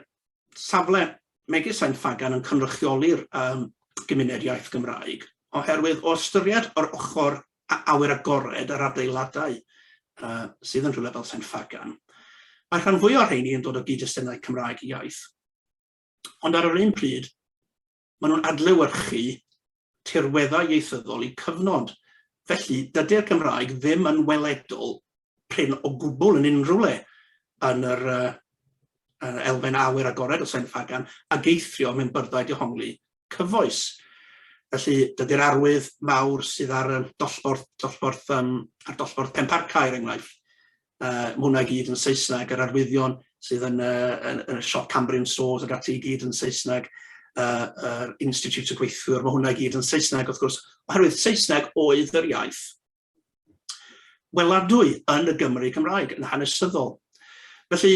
safle megis Sain Ffagan yn cynrychioli'r um, gymuned iaith Gymraeg, oherwydd o ystyried yr ochr a awyr agored yr adeiladau uh, sydd yn rhywle fel Sain Ffagan, mae rhan fwy o'r rheini yn dod o gyd-destunau Cymraeg iaith. Ond ar yr un pryd, Maen nhw'n adlewyrchu tirweddau ieithyddol eu cyfnod, felly dydy'r Gymraeg ddim yn weledol prin o gwbl yn unrhyw le yn yr uh, elfen awyr agored o Sain Ffagan ag eithrio mewn byrddau dehongli cyfoes. Felly, dydy'r arwydd mawr sydd ar y dollborth, dollborth um, ar dollborth Penparca, er enghraifft, Yy ma' hwnna i gyd yn Saesneg, yr arwyddion sydd yn y yn yn y siop Cambrian Stores ag ati i gyd yn Saesneg, yy yr Institute y Gweithiwr, ma' hwnna i gyd yn Saesneg wrth gwrs, oherwydd Saesneg oedd yr iaith weladwy yn y Gymru Cymraeg yn hanesyddol. Felly,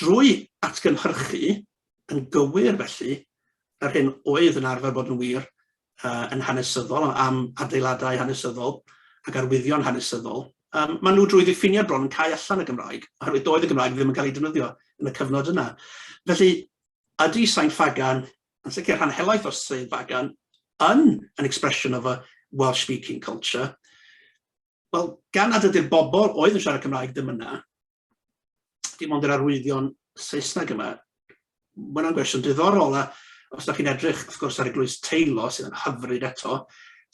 Drwy atgynhyrchu yn gywir, felly, yr hyn oedd yn arfer bod yn wir uh, yn hanesyddol am adeiladau hanesyddol ac arwyddion hanesyddol, um, maen nhw drwy ddiffiniad bron yn cael allan y Gymraeg, oherwydd doedd y Gymraeg ddim yn cael ei defnyddio yn y cyfnod yna. Felly, ydy Sain Fagan, yn sicr rhan helaeth o'r Sain Fagan, yn an expression of a Welsh-speaking culture, Wel, gan nad ydy'r bobl oedd yn siarad Cymraeg ddim yna, dim ond yr arwyddion Saesneg yma, mae hwnna'n gwestiwn diddorol, a os da chi'n edrych, wrth gwrs, ar eglwys Teilo, sydd yn hyfryd eto,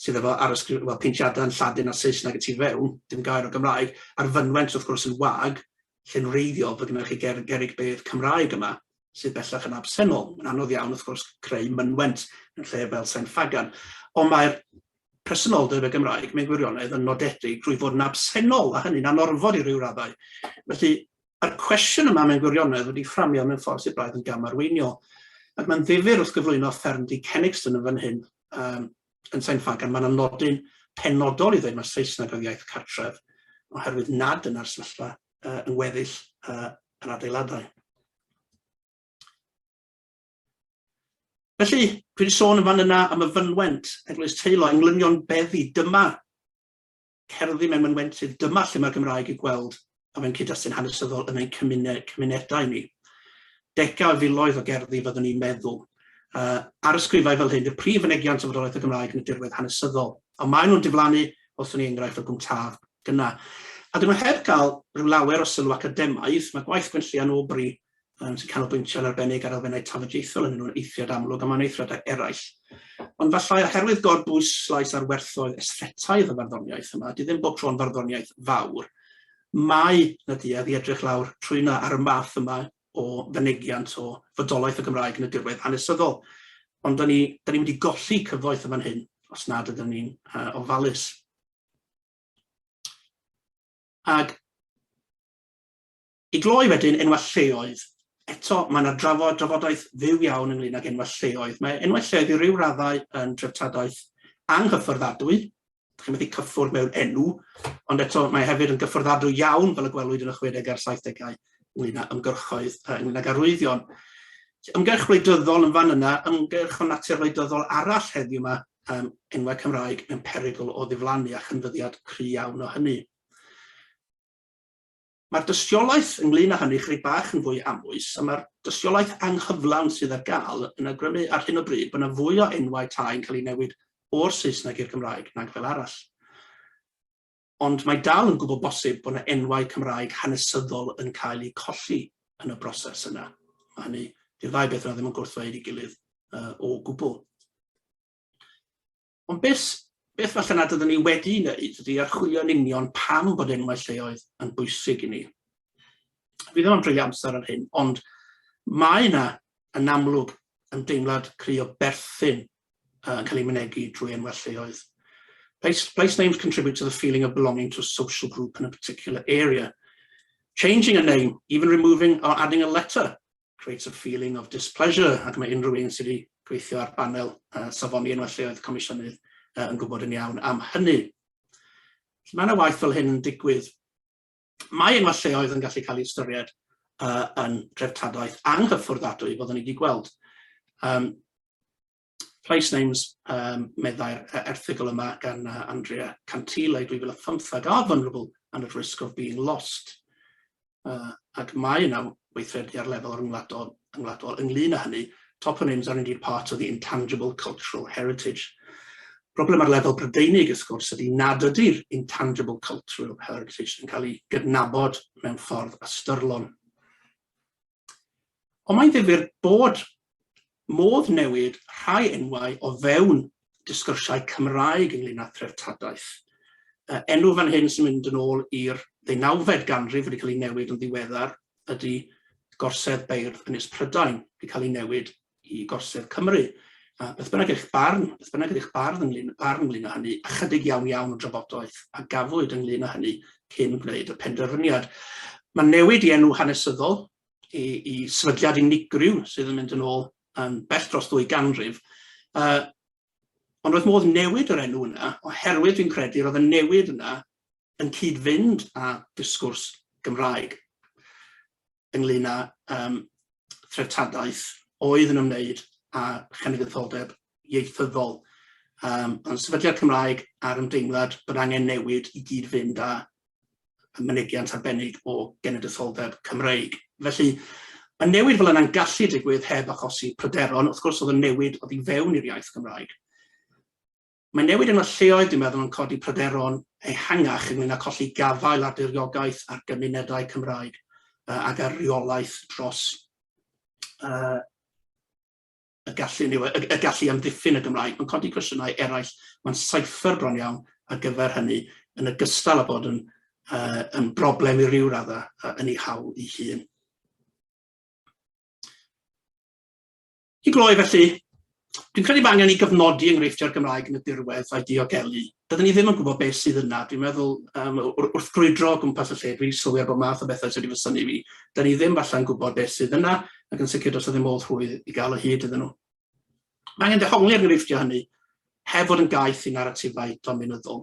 sydd efo arysgrif, well, peintiadau yn Lladin a Saesneg y tu fewn, dim gair o Gymraeg, a'r fynwent, wrth gwrs, yn wag, lle'n reiddiol bod gynnwch chi ger, gerig bedd Cymraeg yma. sydd bellach yn absennol. Mae'n anodd iawn, wrth gwrs, creu mynwent yn lle fel Sain Ffagan. Ond mae'r presenoldeb y Gymraeg mewn gwirionedd yn nodedig drwy fod yn absennol, a hynny'n anorfod i ryw raddau. Felly, mae'r cwestiwn yma mewn gwirionedd wedi fframio mewn ffordd sydd braidd yn gamarweiniol. Ac mae'n ddifur wrth gyflwyno fferm di Kenixton yn fan hyn, um, yn Sain Ffagan, mae'n anodyn penodol i ddweud mae Saesneg oedd iaith cartref, oherwydd nad yna'r sefyllfa uh, yn weddill uh, yr adeiladau. Felly, dwi wedi sôn yn fan yna am y fynwent, Eglwys Teilo, englynion beddi, dyma cerddi mewn mynwentydd, dyma lle mae'r Gymraeg i gweld a fe'n cyd-destun hanesyddol yn ein cymuned, cymunedau ni. Degau o filoedd o gerddi fyddwn ni'n meddwl. Uh, ar ysgrifau fel hyn, y prif fynegiant o fodolaeth y Gymraeg yn y dirwedd hanesyddol, a maen nhw'n diflannu os ni enghraifft o gwmtaf Dyna. A dyn nhw heb gael rhyw lawer o sylw academaidd, mae gwaith Gwenllian Aubrey yn sy'n canolbwyntio yn arbennig ar elfennau tafodieithol yn un o'r eithriad amlwg am anneithriadau eraill. Ond fallai oherwydd gorbwyslais ar werthoedd esthetaidd y farddoniaeth yma, ydy ddim bob tro'n farddoniaeth fawr, mae na duedd i edrych lawr trwyna ar y math yma o fynegiant o fodolaeth y Gymraeg yn y dirwedd hanesyddol. Ond dyn ni, dyn ni mynd i golli cyfoeth yn fan hyn os nad ydyn ni'n uh, ofalus. Ac i gloi wedyn, enwau lleoedd. Eto, mae yna drafod, drafodaeth fyw iawn ynglyn ag enwau lleoedd. Mae enwau lleoedd i ryw raddau yn dreftadaeth anghyffordadwy, chi'n methu cyffwrdd mewn enw, ond eto mae hefyd yn gyffordadwy iawn fel y gwelwyd yn y 60 a'r 70au ynglyn â ymgyrchoedd, ynglyn â garwyddion. Ymgyrch wleidyddol yn fan yna, ymgyrch o natur wleidyddol arall heddiw yma, um, enwau Cymraeg mewn perygl o ddiflannu a chynfyddiad cry iawn o hynny. Mae'r dystiolaeth ynglyn â hynny chydig bach yn fwy amwys, a mae'r dystiolaeth anghyflawn sydd ar gael yn agrymu ar hyn o bryd bod yna fwy o enwau tai yn cael ei newid o'r Saesneg i'r Gymraeg nag fel arall. ond mae dal yn gwbl bosib bod 'na enwau Cymraeg hanesyddol yn cael eu colli yn y broses yna. Mae hynny, 'di'r ddau beth yna ddim yn gwrthddweud ei gilydd uh, o gwbl. Ond beth, beth falle nad ydyn ni wedi wneud ydy archwilio'n union pam bod enwau lleoedd yn bwysig i ni. Fi ddim yn dreulio amser ar hyn, ond mae yna yn amlwg ymdeimlad cry o berthyn yn cael ei mynegi drwy enwau lleoedd. Place, place names contribute to the feeling of belonging to a social group in a particular area. Changing a name, even removing or adding a letter, creates a feeling of displeasure ac mae unrhyw un sydd wedi gweithio ar banel uh, safoni enwau lleoedd comisiynydd uh, yn gwybod yn iawn am hynny. Mae yna waith fel hyn yn digwydd Mae enwau lleoedd yn gallu cael eu ystyried uh, yn dreftadaeth anghyffordadwy, fel ni wedi gweld. Um, place names, um, meddai'r erthigol yma gan uh, Andrea Cantile 2015, are vulnerable and at risk of being lost. Uh, ac mae yna weithredu ar lefel ryngwladol, rhyngwladol ynglŷn â hynny, toponyms are indeed part of the intangible cultural heritage. Problem ar lefel Brydeinig, ys gwrs, ydy nad ydy'r intangible cultural heritage yn cael ei gydnabod mewn ffordd ystyrlon. Ond mae'n ddifur bod Modd newid rhai enwau o fewn disgyrsiau Cymraeg ynglŷn â threftadaeth. Y enw fan hyn sy'n mynd yn ôl i'r ddeunawfed ganrif wedi cael ei newid yn ddiweddar ydy Gorsedd Beirdd Ynys Prydain, wedi cael ei newid i Gorsedd Cymru. A beth bynnag eich barn, beth bynnag ydy'ch bardd ynglŷn, barn ynglŷn â hynny, ychydig iawn iawn o drafodaeth a gafwyd ynglŷn â hynny cyn gwneud y penderfyniad. Mae newid i enw hanesyddol i, i sefydliad unigryw sydd yn mynd yn ôl yn bell dros ddwy ganrif. Uh, ond roedd modd newid yr enw yna, oherwydd dwi'n credu roedd y newid yna yn cyd-fynd â disgwrs Gymraeg ynglyn â um, threftadaeth oedd yn ymwneud â chenedlaetholdeb ieithyddol. Um, ond sefydliad Cymraeg a'r ymdeimlad bod angen newid i gyd-fynd â y mynegiant arbennig o genedlaetholdeb Cymreig. Felly, y newid fel yna'n gallu digwydd heb achosi pryderon, wrth gwrs oedd y newid oedd i fewn i'r iaith Gymraeg. Mae newid yn y lleoedd, dwi'n meddwl, yn codi pryderon ehangach ynglyn â colli gafael ar diriogaeth ar gymunedau Cymraeg ac ar reolaeth dros uh, y gallu ni, y, y gallu i amddiffyn y Gymraeg, mae'n codi cwestiynau eraill, mae'n saethr bron iawn ar gyfer hynny, yn y gystal â bod yn, uh, yn broblem i ryw raddau uh, yn ei hawl ei hun. I gloi felly, dwi'n credu mae angen i gyfnodi enghreifftiau'r Gymraeg yn y dirwedd a'i diogelu Dydyn ni ddim yn gwybod beth sydd yna. Dwi'n meddwl, um, wrth grwydro o gwmpas y lle, dwi'n sylwi ar bod math o bethau sydd wedi fysynu fi. Dydyn ni ddim falle'n gwybod beth sydd yna, ac yn sicr dros ddim modd rhwydd i gael o hyd iddyn nhw. Mae angen dehongli ar gyfeilltio hynny, heb fod yn gaeth i naratifau dominyddol.